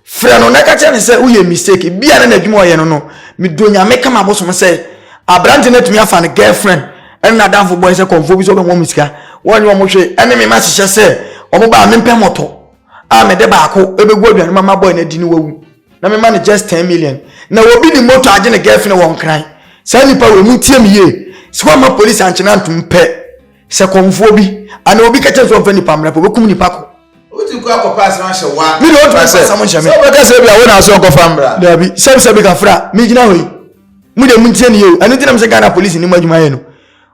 Frɛ no na ɛka kyerɛ ne sɛ woyɛ mistake. Bia na n'adwuma ɔyɛ no no. Medɔ nyame kama bosom sɛ aberante no atumi afa no girlfriend ɛne n'adamfo bɔe sɛ kɔmfoɔ bi sɛ ɔbɛmɔ mo sika. Wɔnyɛ ɔmo hwee ɛne me ma hyehyɛ sɛ ɔmo baa mempɛ mɔtɔ a mede baako ɛbɛgu aduane ma ma bɔe no adi no wawu na mema no just 10 million na obi ne moto agye ne girlfriend wɔ nkran saa nipa wɔ mu ntie me yie sɛ wama police ankyena ntom pɛ Sɛ kɔmfoɔ bi anaa obi ka kyerɛ sɛ ɔmfa nipa mmra pɛ, ɔbɛkum nipa ko. Wotu kɔ akɔpɛ asɛm ahyɛ wo a, Me deɛ ɔtumi sɛ, asɛm nhyɛ me. sɛ wobɛka sɛ bia wo na asɛ ɔkɔfa mmra. Daabi, sɛm sɛ meka fra, megyina hɔ yi. Mo deɛ montie no yie o. Ɛno nti na mesɛ Ghana police nni mo adwuma yɛ no.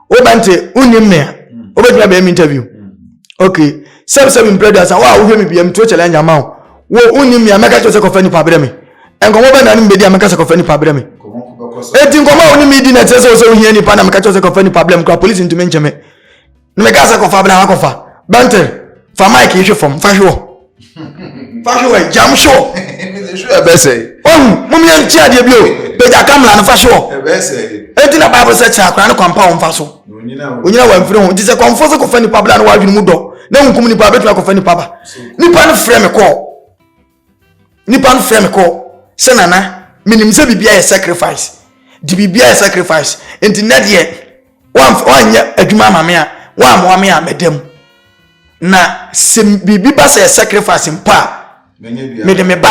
Woba nte, wonnim me a, wobɛtumi abɛyɛ me interview. Ok, sɛm sɛ mempere aduasa, wo a wohwɛ me bia, metuo challenge ama wo. Wo, wonnim me a, mɛka kyerɛ wo sɛ kɔfa nipa brɛ me. nkɔmɔ bɛn na ne mbɛdi a mɛka sɛ kɔfa nipa brɛ me eti nkɔmɔ a wo ne me di na ɛkyerɛ sɛ wo sɛ wohia nipa na mɛka kyerɛ sɛ kɔfa nipa brɛ me kora polisi ntumi nkyɛ me na mɛka sɛ kɔfa brɛ akɔfa bɛntere fa mike hwe fam fa hwe wɔ fa hwe wɔ gyam hwe wɔ ohu mom yɛ nkyɛ adeɛ bi o pagya kamla no fa hwe wɔ eti na bible sɛ kyerɛ akora ne kwampa wo mfa so onyina wɔ mfiri ho nti sɛ kɔmfo sɛ kɔfa nipa brɛ no wadwene mu dɔ na nkum nipa bɛtumi akɔfa nipa ba nipa no frɛ me kɔɔ nnipa no frɛ me kɔ sɛ nana menim sɛ biribi ayɛ sacrifice de biribi ayɛ sacrifice nti nɛ deɛ woanyɛ adwuma ama me a woammoa me a mɛda mu na sɛ biribi ba sɛ sacrifice mpo a mede me ba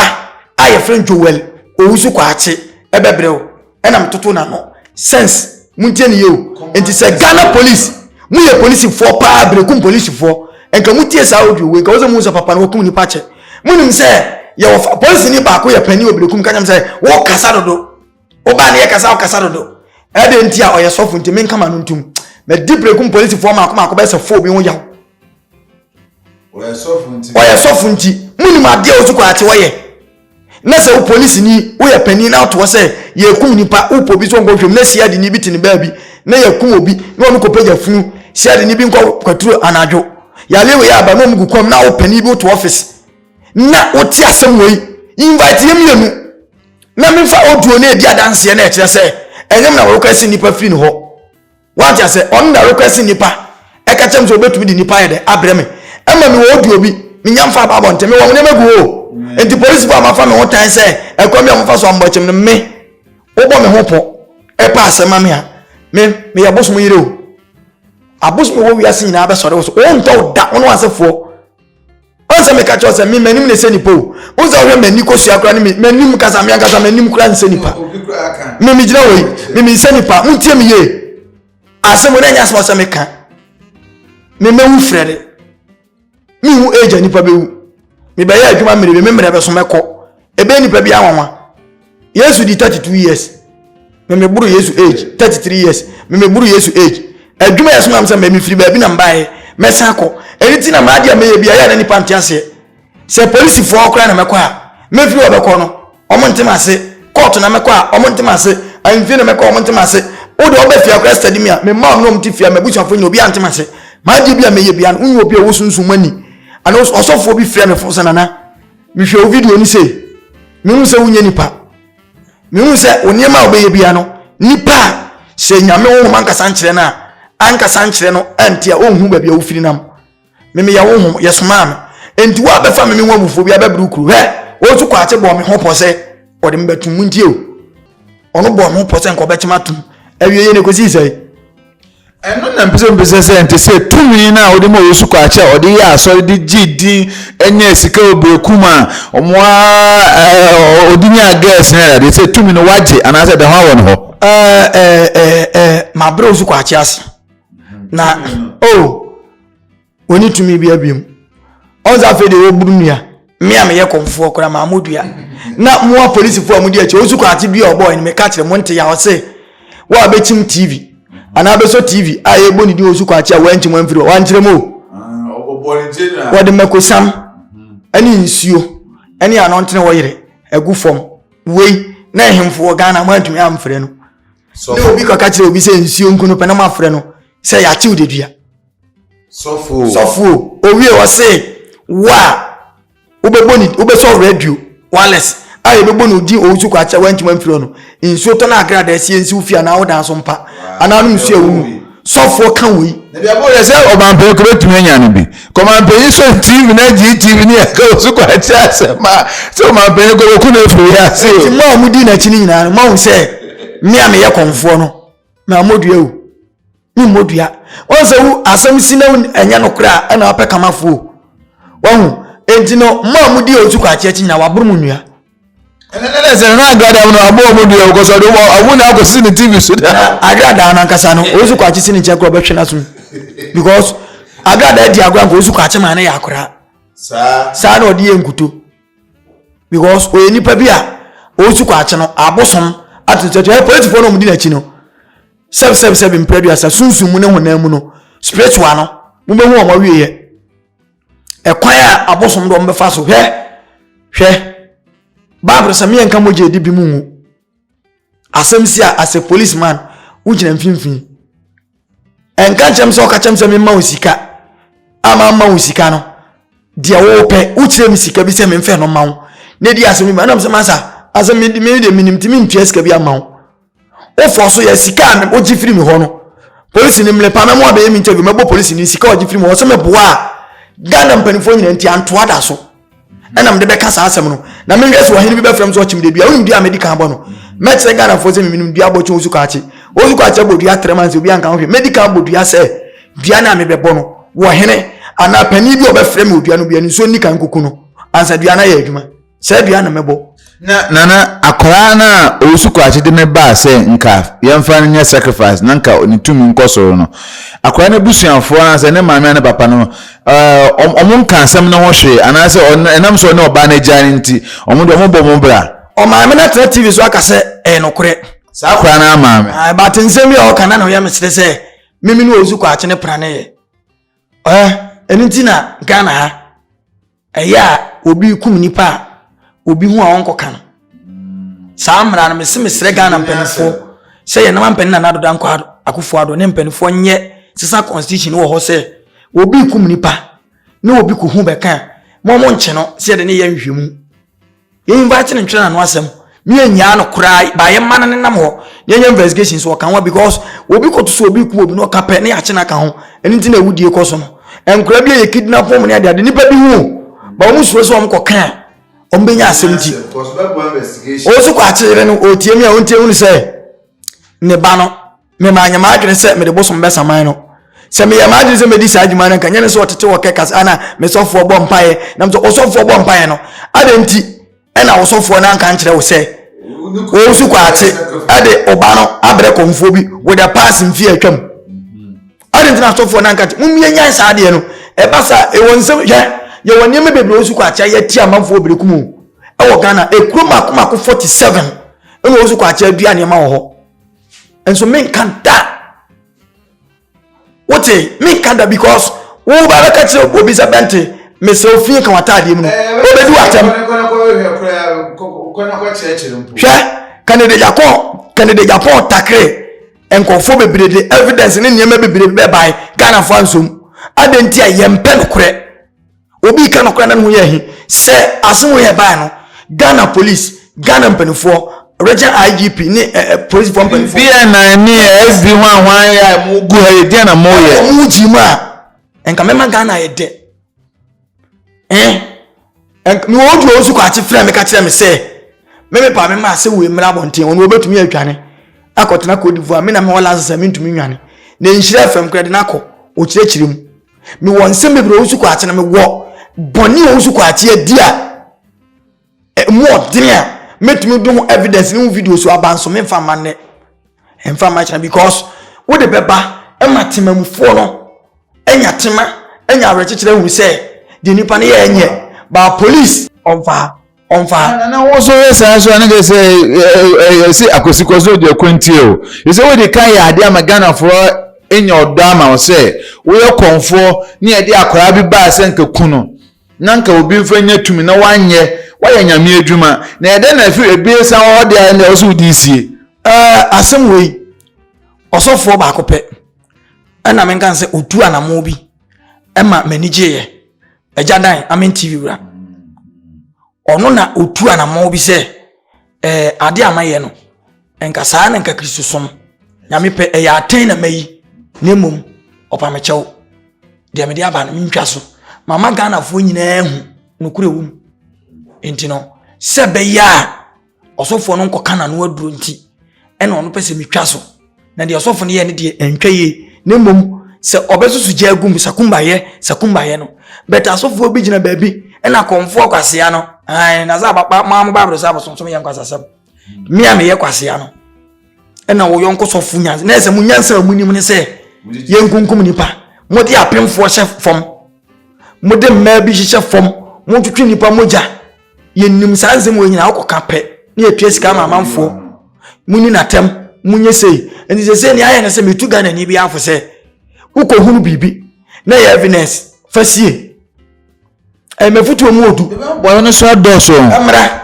a yɛfrɛ joel owusu kwaakye ɛbɛbrɛ o ɛna metoto na no sense montie ne yɛ o nti sɛ ghana police moyɛ polisifoɔ paa berekum polisifoɔ nka motie saa audio wei nka wo sɛ mu sɛ papa no wɔkum nipa kyɛ monim sɛ yɛwɔ polisi ni baako yɛ panyin wɔ berekum kanyam sɛ wɔkasa dodo wobaa ne yɛ kasa wokasa dodo ɛde nti a ɔyɛ sɔfo nti menka ma no ntom madi berekum polisifoɔ maako maako bɛsɛ fo bi ho yaw ɔyɛ sɔfo nti monim adeɛ wo so kɔ akye wɔyɛ Na sɛ wo polisini, woyɛ panin na ato hɔ sɛ yɛrekum nipa, wopɛ obi sɛ ɔnkɔhwɛ mu na siadeni bi te ne baabi na yɛakum obi na ɔno kɔpagya funu, siadeni bi nkɔ kwaturo anadwo, yale wei aba na ɔmo gu kɔm na wo panin bi woto ɔfese na wote asɛm wei, invite yɛ mmienu na memfa audio no edi adanseɛ na ɛkyerɛ sɛ ɛnyɛ me na wɔrekɔ ɛse nipa firi ne hɔ. Wate ase? Ɔno na request nipa ɛka kyɛm sɛ obetumi de nipa ayɛ dɛ abrɛ me ɛma me wɔ odi obi menya mfa aba abɔnten me wɔ nneɛma gu hɔ o nti polisifo a mafa me ho tan sɛ ɛkwan bi a wɔfa so ambɔ kyɛm no me wobɔ me ho pɔ ɛpa asɛm ma me a me meyɛ bosom yere o abosom wɔ wiase nyinaa bɛsɔre wo so wɔntɔ wo da wo ne w'asefoɔ Ɔn sɛ meka kyerɛ sɛ me m'anim na ɛsɛ nipa o. Ɔn sɛ ɔhwɛ m'ani kosua kora ne m'anim kasa me ankasa m'anim kora nsɛ nipa. Me me gyina hɔ yi me me nsɛ nipa mo ntie me yie. Asɛm na ɛnyɛ asɛm ɔsɛ meka. Me mɛwu frɛ de. Me hu age a nipa bɛwu. Me bɛyɛ adwuma mmere bi me mmerɛ bɛso mɛkɔ. Ebe nipa bi anwanwa. yesu di thirty two years mɛmɛ buru yesu age thirty three years mɛmɛ buru yesu age adwuma yɛ so nam sɛ mɛmɛ firi baabi na mbaayɛ mɛsan akɔ ɛni ti na maa di a mɛyɛ bi a yɛ na nipa nte aseɛ sɛ polisifoɔ koraa na mɛkɔ a mɛfiri ɔbɛkɔ no ɔmo ntem ase kɔɔto na mɛkɔ a ɔmo ntem ase ahemfie na mɛkɔ ɔmo ntem ase wo de ɔbɛ fie akora sitadi mi a mɛ mmaa ɔmo na ɔmo te fie a mɛ busuafo nyina obi a ntem ase maa di bi a mɛyɛ bi a wonyɛ obi a wosunsun mu ani ana ɔsɔfoɔ bi frɛ me fo sɛ nana mehwɛ wo video no sei mehu sɛ wonyɛ nipa mehu sɛ wo nneɛma a wobɛyɛ bia no nipa a sɛ nyame honhom ankasa nkyerɛ no a ankasa nkyerɛ no ɛnte a ɔnhu baabi a wofiri nam memeyɛ honhom yɛsomaa me enti wo a bɛfa me me ho abufuo bi abɛbere wo kuro hɛ wɔn nso kwaakye bɔɔ me ho pɔ sɛ ɔde me bɛtom mu ntie o ɔno bɔɔ me ho pɔ sɛ nka ɔbɛkyem atom awie yɛ ne kɔsii sɛe Ɛno na mpɛ sɛ mpɛ sɛ sɛ ɛnte sɛ tumi no a wɔde ma Yesu Kwakye a ɔde yɛ asɔre de gye din nyɛ sika wɔ berekum a wɔn a ɔde nyaa girls ne adeade sɛ tumi no wagye anaasɛ ɛda hɔ awɔ no hɔ. Ɛɛ ɛɛ ɛɛ mabrɛ Osu Kwakye ase na oh. Ɔnni tumi bia biom. Ɔhu sɛ afei deɛ wɔburu nua. Me a meyɛ kɔmfoɔ koraa maa mo dua. Na mo apolisifoɔ a modi akyi, ɔsu kwate dua a ɔbɔɔ no, meka kyerɛ mo, nte ya. Ɔse, wo a bɛkyim TV, anaa bɛsɔ TV a yɛbɔ ne din ɔsu kwate a wankyim amfiri hɔ, wankyerɛ mu o. Wɔde makosam ne nsuo ne anɔntene ɔyere agu fam. Wei na ɛhemfo wɔ Ghana mo antumi amfrɛ no. Ne obi kɔka kyerɛ obi sɛ nsuo nku no pɛ na mo afrɛ no sɛ yɛakyew dedua. sɔfo sɔfo owie ɔse wo a wobɛbɔ ne wobɛsɔ radio wireless a yɛbɛbɔ ne odin ɔwusu kɔ akyɛ wantumi amfiri no nsuo tɔ no agrada asie nsi wo fie anaa wo dan so mpa anaa nom nsuo awu mu sɔfoɔ ka wei ɛbɛyɛ sɛ ɔmampɛyi kɔ bɛtumi anya no bi kɔmampɛyi sɔ tv na gye tv ne yɛka wo so kɔ akyɛ asɛm a sɛ ɔmampɛyi kɔ wɔku no afiri yɛ ase o ma ɔmudi n'akyi no nyinaa no mahu sɛ me a meyɛ kɔmfoɔ no mammɔdua o ne mmɔdua wɔn sɛ wo asɛm si na ɛnyɛ no koraa ɛna wapɛ kamafoɔ wɔn enti no mma a wɔdi wɔn so kɔ akyi akyi nyinaa waboro mu nnua ɛnɛnɛ sɛ na agradaa no abɔ wɔn dua wɔkɔ so ɔde wɔn awo na akɔ sisi ne tv so da agradaa no ankasa no wɔn so kɔ akyi si ne nkyɛn korɔ ɔbɛhwɛ n'asom because agradaa di agorɔ anka wɔn so kɔ akyi maa ne yɛ akora saa na ɔde yɛ nkuto because ɔyɛ nipa bi a ɔresu kɔ akye no abosom ato nsa tu ɛyɛ polisifoɔ na wɔn di n'akyi no sɛbi sɛbi sɛbi mpere bi asa sunsun mu ne honam mu no spiritual no mo bɛ hu wɔn awie yɛ ɛkwan a abosom de wɔn bɛfa so hwɛ hwɛ baabul sɛ meyɛ nka mogya edi bi mu ngu asɛm si a as a policeman wogyina mfimfini. ɛnka nkyerɛ me sɛ ɔka kyerɛ me sɛ memma wo sika a mamma wo sika no deɛ wopɛ wokyerɛ me sika bi sɛ memfɛ no ma wo na ɛdi asɛm bi ma nam sɛ masa asɛ mede menim nti mentua sika bi ama wo wofɔ so yɛ sika a wogye firi me hɔ no polisi no mmerɛ pa mɛmo abɛyɛ me interview mɛbɔ polisi no sika a ɔgye firi me hɔ sɛ mɛboa a ghana mpanimfoɔ nyina nti antoa da so ɛna mede bɛka saa asɛm no na menhwɛ sɛ ɔhene bi bɛfrɛ m so ɔkyem dadua wonim dua a mɛdi kan bɔ no mɛkyerɛ ghanafoɔ sɛ memenom dua bɔkye wo suka akye wo suka akye bɔ dua trɛma nsɛ obi anka ho hwɛ mɛdi kan bɔ dua sɛ dua no a mebɛbɔ no wɔ hene anaa panin bi ɔbɛfrɛ me odua no bia ne nsuo nni kan kuku no ansa dua no ayɛ adwuma sɛ dua na mɛbɔ Na nana akwadaa no a ɔresu kwakye de no baa sɛ nka yɛmfa no nyɛ sacrifice na nka ne tumi nkɔ soro no, akwadaa no abusuafoɔ anaasɛ ne maame anaa ne papa no, ɛɛ, wɔn nka asɛm no ho hwee anaasɛ ɛnam sɛ ɔne ɔbaa no agya no nti, wɔn de wɔbɔ wɔn bra. Ɔmaame no atena TV so aka sɛ ɛyɛ nokorɛ. Saa akwadaa no ara maame. Ae, but nsɛm bi a ɔka na na ɔyɛ me sere sɛ mimi ne ɔresu kwakye no praneeɛ. Ɛɛ, ɛno nti na Ghana ha. Ɛyɛ a obi kum nipa a, obi hu a ɔnkɔ ka no. Saa mmara no mese mesrɛ Ghana mpanimfoɔ sɛ yɛn nama mpanin Nana Addo Dankwa Akufo Addo ne mpanimfoɔ nyɛ sesa constitution wɔ hɔ sɛ obi kum nipa ne obi kuhu bɛka a, mo mo nkye no sɛ yɛde ne yɛ nhwehwɛmu. yɛ invite no ntwerɛ n'ano asɛm ne yɛnyaa no koraa ba yɛma no nenam hɔ na yɛnyɛ investigation so ɔka ho because obi kɔto so obi ku obi na ɔka pɛ ne yɛakye no aka ho ɛno nti na awudie kɔ so no nkora bi a yɛ kidnap wɔn ne adeade nipa bi hu ba wɔn suro sɛ wɔn kɔ kan a wɔn bɛnya asɛm ti ɔwɔ so kɔ akyere no ɔtie mi a ɔntie hunu sɛ ne ba no mema anyɛ m'adwene sɛ mede bosom bɛsa man no sɛ meyɛ m'adwene sɛ mɛdi saa adwuma no nka nyɛ ne sɛ ɔtete wɔ kɛkas ana me sɔfoɔ bɔ mpaeɛ nam sɛ ɔsɔfoɔ bɔ mpaeɛ no adɛn nti ɛna ɔsɔfoɔ no anka nkyerɛ wo sɛ wɔn so kwaate ɛde ɔba no abrɛ kɔmfoɔ bi wɔ da paase mfie atwam adɛn nti na asɔfoɔ no anka nkyerɛ mommie nyan saa adeɛ no ɛba saa ɛwɔ nsɛm hwɛ yɛwɔ nneɛma bebree wɔn so kwaate ayɛ ti amanfoɔ bere kum ɛwɔ ghana ekuro mako mako forty seven ɛna wɔn so kwaate adua nneɛma wɔ hɔ nso menka da wote menka da because woba bɛka kyerɛ obi sɛ bɛnte mesɛ ofie ka w'ataadeɛ mu no ɔbɛdi w'atɛm hwɛ kanede japan kanede japan takre nkurɔfoɔ bebree de evidence ne nneɛma bebree bɛbae ghanafoɔ ansom adɛn nti a yɛmpɛ nokorɛ obi ka nokora na ne ho yɛ ahi sɛ asem wei ɛbae no Ghana police Ghana mpanimfoɔ region IGP ne eh, eh, polisifoɔ mpanimfoɔ BNI ne SD ho a hwan yɛ a mo gu ha yɛ deɛ na mo yɛ ɔmo gyi mu a nka mɛma Ghana yɛ dɛ eh nk- mewɔ odu ɔwo so kɔ akye frɛ me ka kyerɛ me sɛ me me paa me ma asɛ wei mmra abɔnten ɔno ɔbɛtumi atwane akɔtena Cote d'Ivoire me na mewɔ license a mentumi nwane na nhyira fam kora de no akɔ ɔkyerɛkyerɛ mu mewɔ nsɛm bebree a ɔnsu kɔ akye na mewɔ bɔne a ɔnsu kɔ akye adi a ɛmu ɔden a mɛtumi de ho evidence ne ho video so aba nso memfa mma nnɛ ɛmfa mma kyena because wode bɛba ma temamufoɔ no anya tema anya awerɛkyekyerɛ hu sɛ deɛ nipa no yɛ ɛnyɛ baa police ɔmfa ɔmfa ha na wo nso yɛ saa nso a na kyerɛ sɛ ɛsɛ akosikɔ so deɛ kwantie o ɛsɛ wode ka yɛ adeɛ ama ghanafoɔ nya ɔdɔ ama wo sɛ woyɛ kɔmfoɔ ne yɛde akwaraa bi baa sɛ nka ku no na nka obi mfa nya tumi na wanyɛ wayɛ nyame adwuma na ɛdɛ na ɛfiri ebiesa wɔ hɔ deɛ na ɛwɔ so wode sie asɛm wei ɔsɔfoɔ baako pɛ ɛna menka sɛ ɔtu anamo bi ɛma m'ani gyeeɛ agya dan amen tv wura ɔno na ɔtu anammɔn bi sɛ ɛɛ eh, ade a mayɛ no nka saa na nka kristosom nyame pɛ ɛyɛ atɛn na mayi na mmom ɔpamekyɛw deɛ mede aba no mentwa so mama ghanafoɔ nyinaa hu nokorɛ wom nti no sɛ bɛyɛ a ɔsɔfoɔ no nkɔka n'ano aduro nti ɛna ɔno pɛ sɛ metwa so na deɛ ɔsɔfo no yɛ no deɛ ɛntwa yie na mmom sɛ ɔbɛsoso gya agum sakumbayɛ sakumbayɛ no bɛtɛ asɔfoɔ bi gyina baabi ɛna kɔmfoɔ kwasea no ɛn na sɛ abapa maa mo baabolo sɛ abosonsom yɛ nkwasasɛm mmea hmm. meyɛ kwasea no ɛna wɔyɔ nkɔsɔfo nyansa na ɛsɛ mo nyansa a mo nim ne sɛ yɛnkunkum nipa mode apemfoɔ hyɛ fam mode mmaa bi hyehyɛ fam motwetwe nipa mogya yɛnim saa nsɛm wɔ nyinaa wokɔka pɛ na yɛtua sika ma amanfoɔ muni natɛm munyɛ sei nti sɛ sɛ nea ayɛ no sɛ metu ghana ni bi afo sɛ wokɔhunu biribi na yɛ evidence fa sie ɛmɛfotuo mu odu wɔn no so adɔɔso mmara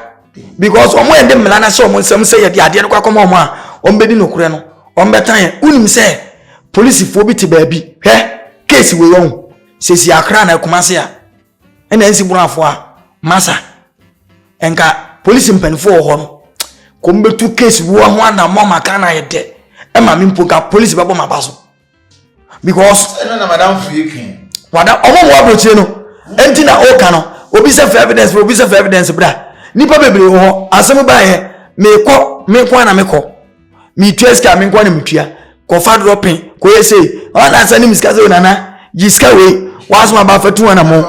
because wɔn yɛ de mmara no ahyɛ wɔn nsɛm sɛ yɛde adeɛ no kɔ akɔma wɔn a wɔn bɛdi nokorɛ no wɔn bɛtan yɛ wonim sɛ polisifoɔ bi te baabi hwɛ keesi wei wɔn sɛsi akra na akuma se a ɛna ɛsi borafo a masa nka polisi mpanimfoɔ wɔ hɔ no kɔm bɛtu case bi wɔ ho anammɔ ma ka na ayɛ dɛ ɛma me mpo nka polisi bɛbɔ m'aba so because ɛno na madam fo yɛ twɛn wada ɔmo wɔ aburokyire no ɛnti na ɔka no obi sɛ fɛ evidence obi sɛ fɛ evidence bra nipa bebree wɔ hɔ asɛm baayɛ mekɔ mekɔ na mekɔ metua sika me nkoa na metua kɔfa dorɔ pe kɔyɛ sei ɔna asɛ ne me sika sɛ nana gye sika wei wasom aba fa tu anamo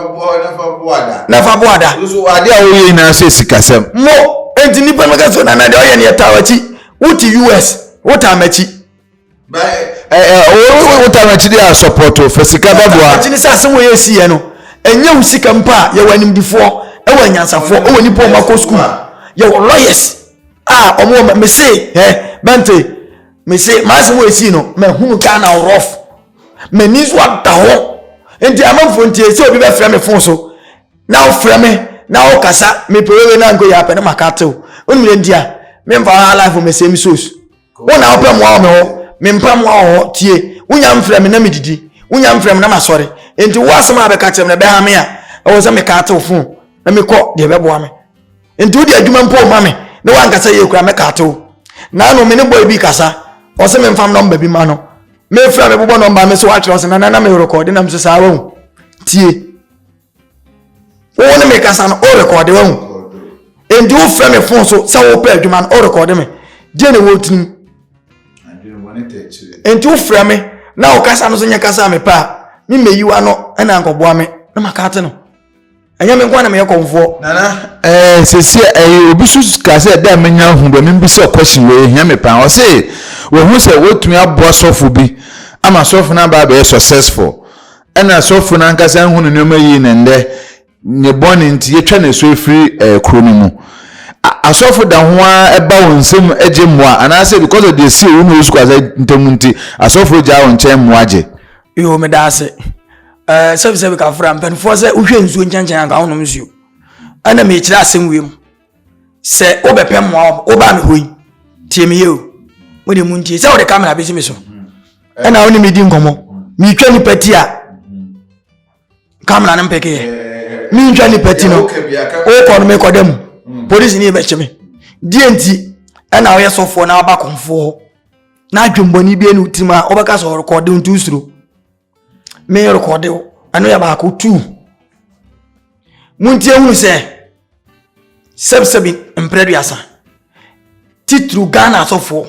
na fa bo ada ade a woyɛ nyinaa sɛ sikasɛm mo enti nnipa no ka sɛ nana deɛ ɔyɛ ne yɛtaa wakyi wote us wotaa makyi wotaa makyi deɛ asɔpɔto fa sika bɛboa akyi ne sɛ asɛm wɔ yɛ siiɛ no ɛnyɛ wo sika mpo a yɛwɔ animdifoɔ ɛwɔ anyansafoɔ ɛwɔ nnipa ɔma kɔ sukuu yɛwɔ lawyers Ah, ɔmo wɔ me se ɛ bɛnte me se maasem wɔ esi no mahunu ghana rof m'ani nso ada hɔ nti amanfoɔ nti sɛ obi bɛfrɛ me fon so na wofrɛ me na wokasa mepɛ wewe na nko yɛ apɛ ne maka tew wonim dɛ nti a memfa hɔ alifo me same sos wo na wopɛ mmoa wɔ me hɔ mempa mmoa wɔ hɔ tie wonya mfrɛ me na medidi wonya mfrɛ me na masɔre nti wo asɛm a bɛka kyerɛ me na ɛbɛha me a ɛwɔ sɛ meka tew fon na mekɔ deɛ ɛbɛboa me nti wode adwuma mpo ma me na woankasa yie kora mɛka atew na ano me ne bɔe bi kasa ɔse memfam nɔmba bi ma no mefrɛ mebobɔ nɔmba me so atwerɛ ɔse nanana merekɔde nam so saa wahu tie wo ne mekasa no worekɔde wahu nti wofrɛ me fon so sɛ wopɛ adwuma no worekɔde me deɛ ne wɔtirim nti wofrɛ me na wokasa no so nyɛ kasa a mepɛ a memɛyiwa no ɛna nkɔboa me na maka ate no ɛnyɛ me nkoa na meyɛ kɔmfoɔ nana ɛɛ sɛsi ɛyɛ obi so ka sɛ dɛ menya ahu dɛ membisa question wei ɛhia me paa ɔse wɔhu sɛ wɔtumi aboa sɔfo bi ama sɔfo no aba abɛyɛ successful ɛna sɔfo no ankasa nhu no nneɛma yie na ndɛ ne bɔne nti yɛtwa ne so ɛfiri ɛɛ kuro no mu asɔfo da ho ara ɛba wɔn nsam gye mmoa anaasɛ because of deɛ si owu na osu kwasa ntam nti asɔfo gya wɔn nkyɛn mmoa gye. yoo meda ase ɛɛ sɛbisɛbi ka fura mpanimfoɔ sɛ wohwɛ nsuo nkyɛnkyɛn anka wonom nsuo ɛna mekyerɛ asɛm wiem sɛ wobɛpɛ mmoa wɔ wobaa me hɔ yi tie me yie o mo de mu ntie sɛ wode kamera bɛsi me so ɛna wo ne medi nkɔmmɔ metwa nipa ti a kamera no mpɛkeyɛ mentwa nipa ti no wokɔ no mekɔda mu mm. polisi ne yɛbɛkye me deɛ nti ɛna woyɛ sɔfoɔ na waba kɔmfoɔ hɔ na adwembɔne bi ne wotirim a wobɛka sɛ ɔrekɔde nto suro me rekɔde wo ɛno yɛ baako tu montie hunu sɛ sɛbsɛbi mprɛ duasa titiriw ghana asɔfoɔ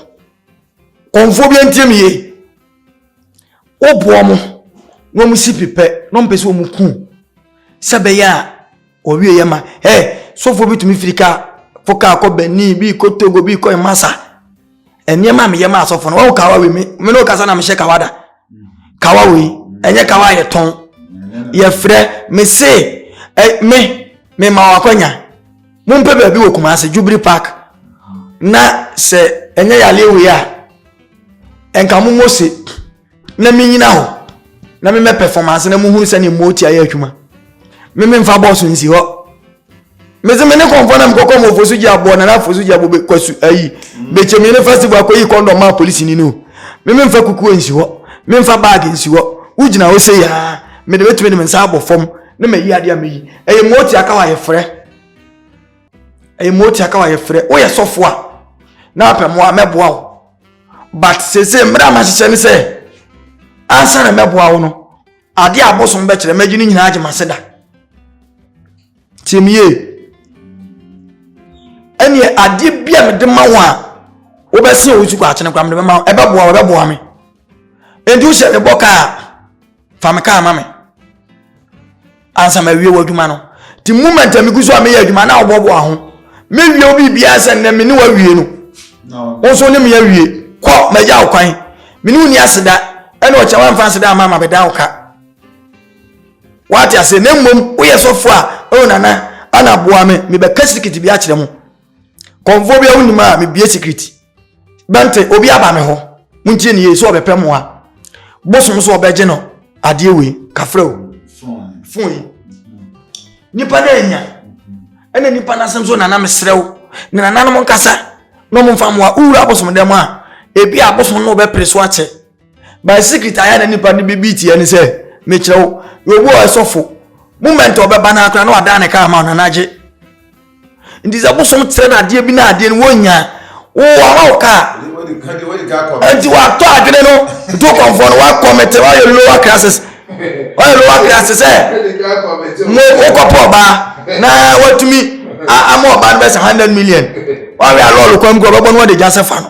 kɔnfoɔ bi antie me yie woboɔ mo na wɔn si pipɛ na wɔn pɛ sɛ wɔn ku sɛ bɛyɛ a Wɔwie yɛ ma ɛ sɔfoɔ bi tumi firi kaa fo kaa kɔ Benin bi kɔ Togo bi kɔ Masa nneɛma a meyɛ ma asɔfoɔ no wɔn kawa wei me me ne ɔkasa na mehyɛ kawa da kawa wei ɛnyɛ kawa a yɛtɔn yɛfrɛ me se ɛ me me ma wɔn akɔnya mo mpɛ baabi wɔ Kumasi Jubilee Park na sɛ ɛnyɛ yaleɛ wei a nka mo mo se. na menyina hɔ na memɛ pɛfɔmanse na mohunu sɛdeɛ mooti ayɛ adwuma me memfa bɔɔso nsi hɔ mese me ne kɔmfɔ na mekɔkɔ ma ɔfosu gye aboɔ nana afosu gye aboɔ kwasu ayi bɛkyɛmi ne festival akɔyi kɔndɔm ma polisi ni no me memfa kukuo nsi hɔ memfa baage nsi hɔ wogyina hɔ sɛ yaa mede bɛtumi de me nsa abɔ fam ne mayi adeɛ a meyi ɛyɛ mooti aka hɔ ayɛ frɛ ɛyɛ mu ɔtia ka wa yɛfrɛ woyɛ sɔfo a na apɛ mmoa mɛboa wo but sese mmerɛ a mahyehyɛ ne sɛ ansa na mɛboa wo no adeɛ a abosom bɛkyerɛ mɛgye ne nyinaa agye mase da tiemie ɛneɛ adeɛ bi a mede ma wo a wobɛse wo sukɔ akyene kora mede bɛma wo ɛbɛboa wo ɛbɛboa me ɛnti wohyɛ ne bɔ kaa fa me kaa ma me ansa ma wie w'adwuma no ti moment a megu so a meyɛ adwuma na ɔbɔboa ho mewie wo biribiara sɛ nnɛ me ne wawie no wo nso ne me awie kɔ magya wo kwan me ne wo ni aseda ɛna ɔkyɛ wamfa aseda ama ma bɛda wo ka wate ase na mmom woyɛ sɔfo a ɛwɔ nana ana boa me mebɛka sikiti bi akyerɛ mo kɔmfoɔ bi a wonim a mebie sikiti bɛnte obi aba me hɔ montie ne yie sɛ ɔbɛpɛ mmoa bosom so ɔbɛgye no adeɛ wei kafrɛ o fon yi nipa no anya ɛna nipa no asɛm so nana mesrɛ wo ne nananom nkasa na ɔmomfa mmoa wowura abosom dɛm a ebi abosom no wobɛpere so akyɛ my secret ayɛ na nipa no bi bi tiɛ ne sɛ mekyerɛ wo yɛobi wɔ ɛsɔfo moment ɔbɛba no akora na wadan ne kaa ma no anagye nti sɛ bosom kyerɛ no adeɛ bi na adeɛ no wɔnya wowɔma wo kaa nti watɔ adwene no to kɔmfoɔ no wakɔmete wayɛ lower classes wayɛ lower classes sɛ wokɔpɔ ɔbaa na watumi ama ɔbaa no bɛsɛ 100 million wawɛ alɔɔlo kwan mu kɔ ɔbɛbɔ no wɔde gya sɛ fa no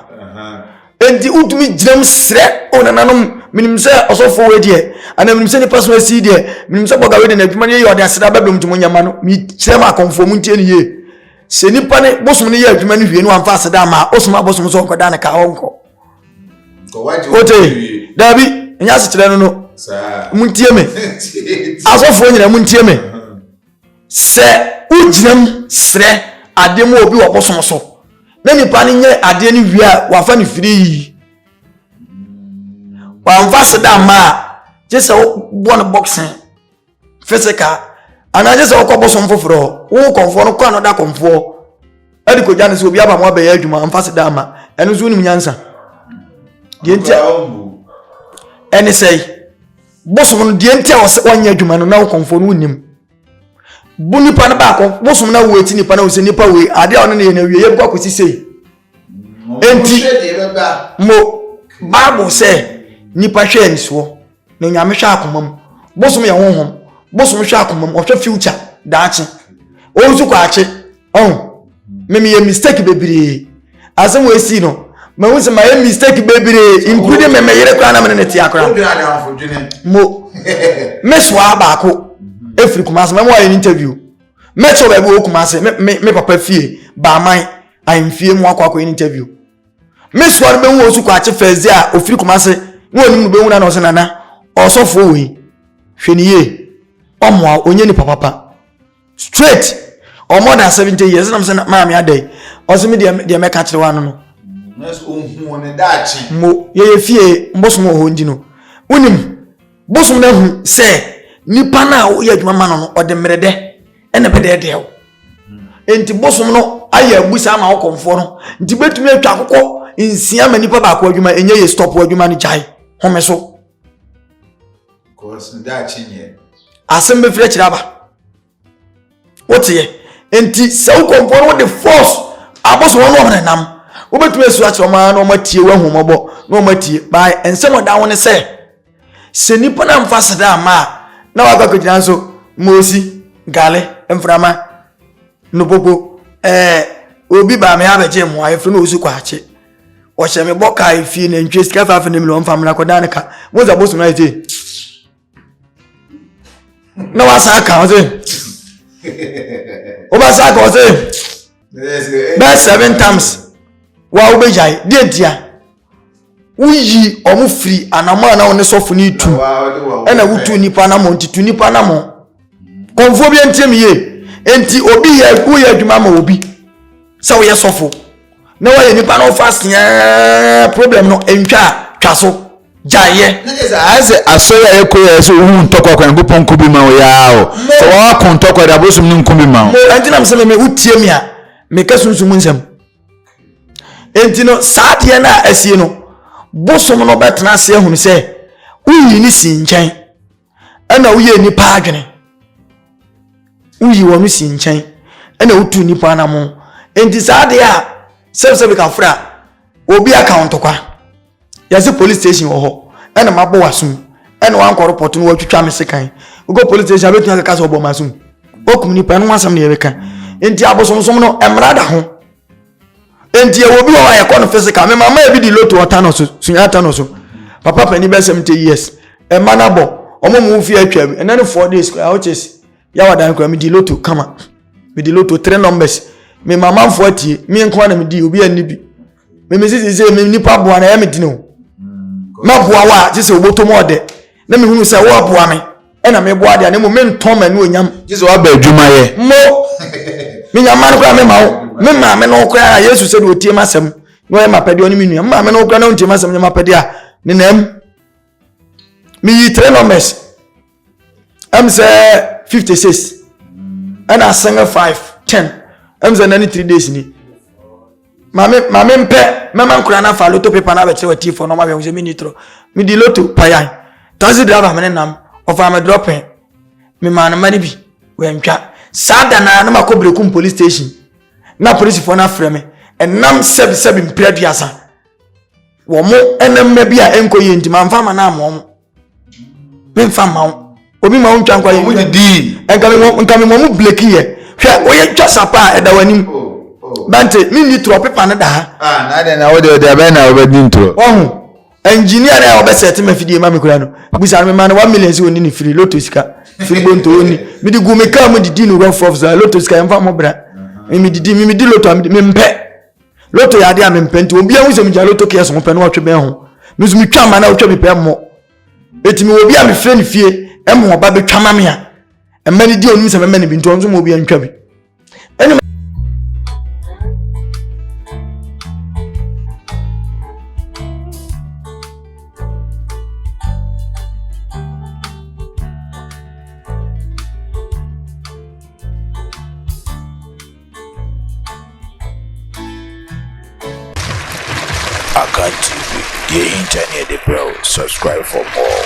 Enti wotumi gyinam srɛ, O nananom, menim sɛ ɔsɔfoɔ wei deɛ, anaa menim sɛ nipa so asi deɛ, menim sɛ bɔga wei deɛ n'adwuma no yɛ ɔde aseda bɛbrɛ mu nti mo nyɛma no, mekyerɛ mo akɔmfoɔ mu ntie no yie. Sɛ nipa ne bosom no yɛ adwuma no wie no wamfa aseda ama a, osoma bosom sɛ ɔnkɔda ne ka ɔnkɔ. Wote? Daabi, ɛnyɛ asekyerɛ no no. Montie me. Asɔfoɔ nyinaa montie me. Sɛ wogyina mu srɛ adeɛ ma obi wɔ bosom so na nipa no nyɛ adeɛ no wie a wafa no firii. Wamfa seda amma a gye sɛ wobɔ no boxing physical anaa gye sɛ wokɔ bosom foforɔ wo kɔmfoɔ no kɔ anoda kɔmfoɔ ɛde kɔgya no sɛ obi aba mo abɛyɛ adwuma amfa seda amma ɛno nso wonim nyansa deɛ nti ɛne sɛe bosom no deɛ nti a wɔsɛ wɔnyɛ adwuma no na wo kɔmfoɔ no wonim bo nipa no baako bosom no awo eti nipa no sɛ nipa wei adeɛ a ɔne ne yɛ no awie yɛbɛkɔ akɔsi sei enti mo bible sɛ nipa hwɛ anisoɔ na nyame hwɛ akoma mu bosom yɛ honhom bosom hwɛ akoma mu ɔhwɛ future daakye ɔnsu kɔ akye ɔho me meyɛ mistake bebree asɛm wɔ esi no mahu sɛ mayɛ mistake bebree including me meyere koraa na mene ne tea koraa mo mesoa baako ɛfiri mhm. kumase mɛmo ayɛ no interview mɛkyɛ baabi wɔ kumase me papa fie baaman ahemfie mu akɔ akɔ interview mesoa no bɛhu ɔsu kwakye fɛɛdze a ɔfiri kumase na ɔnim no bɛhu no na ɔsɛ nana ɔsɔfoɔ wei hwɛ ne yie ɔmmoa ɔnyɛ nipa papa straight ɔmo ɔda asɛm nkyɛn yi ɛsɛ nam sɛ maame adɛ ɔsɛ mi deɛ deɛ mɛka kyerɛ wa no no. nurse ohun wɔn ne daakye. mo yɛyɛ fie bosom wɔ hɔ nti no wonim bosom no ahu sɛ nipa no a woyɛ adwuma ma no no ɔde mmerɛ dɛ ɛna bɛdɛɛdɛɛ wo hmm. nti bosom no ayɛ abusa ama wo kɔmfoɔ no nti bɛtumi atwa akokɔ nsia ma nipa baako adwuma ɛnyɛ yɛ stop adwuma no gyae home so Because daakye nyɛ. Asɛm bɛfiri akyiri aba. Woteɛ. Nti sɛ wokɔ nkɔ no wode force aboso wɔn wɔn nam. Wobɛtumi asu akyerɛ wɔn ara na wɔn atie wɔn ahomɔbɔ na wɔn atie. Baa nsɛm ɔda ho ne sɛ sɛ nipa na nfa seda ama a na wakɔ akɔgyina nso moosi gale mframa nopoko ɛɛ obi baa me abɛgye mmoa efiri na osu kɔ akye. wɔhyɛ me bɔ kaa efie na ntwe sika faafe ne miliɔn fa mmra kɔdan ne ka mo nsa bosom na ɛte na wasan aka ɔse wobɛsan aka ɔse bɛɛ seven times wa wobɛgyae deɛ ntia woyi ɔmo firi anamɔ a na ɔne sɔfo no tu ɛna wotu nipa anamɔ nti tu nipa anamɔ Kɔmfoɔ bi ntie me yie nti obi yɛ woyɛ adwuma ma obi sɛ woyɛ sɔfo na woayɛ nipa no fa seɛ problem no ntwa a twa so gyaeɛ. ayɛ sɛ asɔre a yɛkɔ yɛ sɛ owu ntɔkwa kwan nyankopɔn nko bi ma wo yaa o sɛ wɔako ntɔkwa de abosom no nko bi ma wo ɛnti nam sɛ me wotie me a meka sunsum nsɛm ɛnti no saa deɛ no a asie no bosom no bɛtena ase ahunu sɛ woyii ne sii nkyɛn ɛna woyɛ nnipa adwene woyi wɔn si nkyɛn ɛna wotu nnipa anamo nti saa adeɛ a sɛbsɛbi ka frɛ a obi aka wo ntɔkwa yɛse police station wɔ hɔ ɛna mabɔ w'asom ɛna wankɔ repɔt no wɔatwitwa me sekan wokɔ police station abɛtumi akaka sɛ ɔbɔ m'asom wokum nnipa ɛno asɛm ne yɛbɛka nti abosomsom no mmara da ho Enti ɛwɔ bi wɔ hɔ a yɛkɔ no physical. Me mama ebi di loto ɔta no so, sunya ata no so. Papa panin bɛ 70 years. Ɛma no abɔ. Ɔmo mu fi atwa mu. Ɛnɛ ne four days koraa which is yawa dan koraa me di loto kama. Me di loto three numbers. Me mama fo atie. Me nko na me di obi anni bi. Me me sisi sɛ me nipa boa na ɛyɛ me dini o. Ma boa wa sisi obotom ɔdɛ. Na me hunu sɛ wo aboa me. ɛna mebɔ adeɛ na mmom mentɔn m'anuonyam gye sɛ waba adwumayɛ mo menya mma no koraa mema wo me maame no koraa a yesu sɛ deɛ ɔtie m asɛm na ɔyɛ mapɛdeɛ ɔne me nua me maame no koraa na ɔntie m asɛm nyɛ mapɛdeɛ a ne nam meyi tre numbers ɛm sɛ 56 ɛna asɛngɛ 5 10 ɛm sɛ nane 3 days ni Mame mame mpɛ mɛma nkura na fa loto paper na abɛkyerɛ wa tifo na ɔmahwɛ sɛ menni toro medi loto payan taxi driver mene nam ɔfaa me drɔpɛ memaa no ma no bi wantwa saa da naa na makɔ brekum police station na polisifoɔ no afrɛ me ɛnam sɛbisɛbi mpira duasa wɔn ɛnam ma bi a ɛnkɔ yie nti mamfa ma no ama wɔn memfa mma wo obi ma wo ntwa nkwa yɛmu didii nka memɔ mu bleki yɛ hwɛ woyɛ twa sapa a ɛda w'anim bante menni torɔ pepa no da ha ɔho engineer na ɔbɛsɛ te mafidie ma me kura no busa no mema no 1 million sɛ ɔni ne firi loto sika firi bonto ɔni mede gu me kaa mu didi no rough rough saa loto sika yɛmfa mmɔbra memedidi memedi loto mempɛ loto yɛ adeɛ a mempɛ nti obi ahu sɛ megya loto kɛs ho pɛ na ɔtwe bɛn ho me nso metwa ma na ɔtwa bi pɛ mmɔ ɛti mewɔ bi a mefrɛ no fie ɛma ɔba bɛtwa ma me a ɛma no di ɔnim sɛ mɛma no bi nti ɔno nso ma obi antwa bi Akan TV, deɛ ɛhinta ne yɛde brɛ wo, subscribe for more.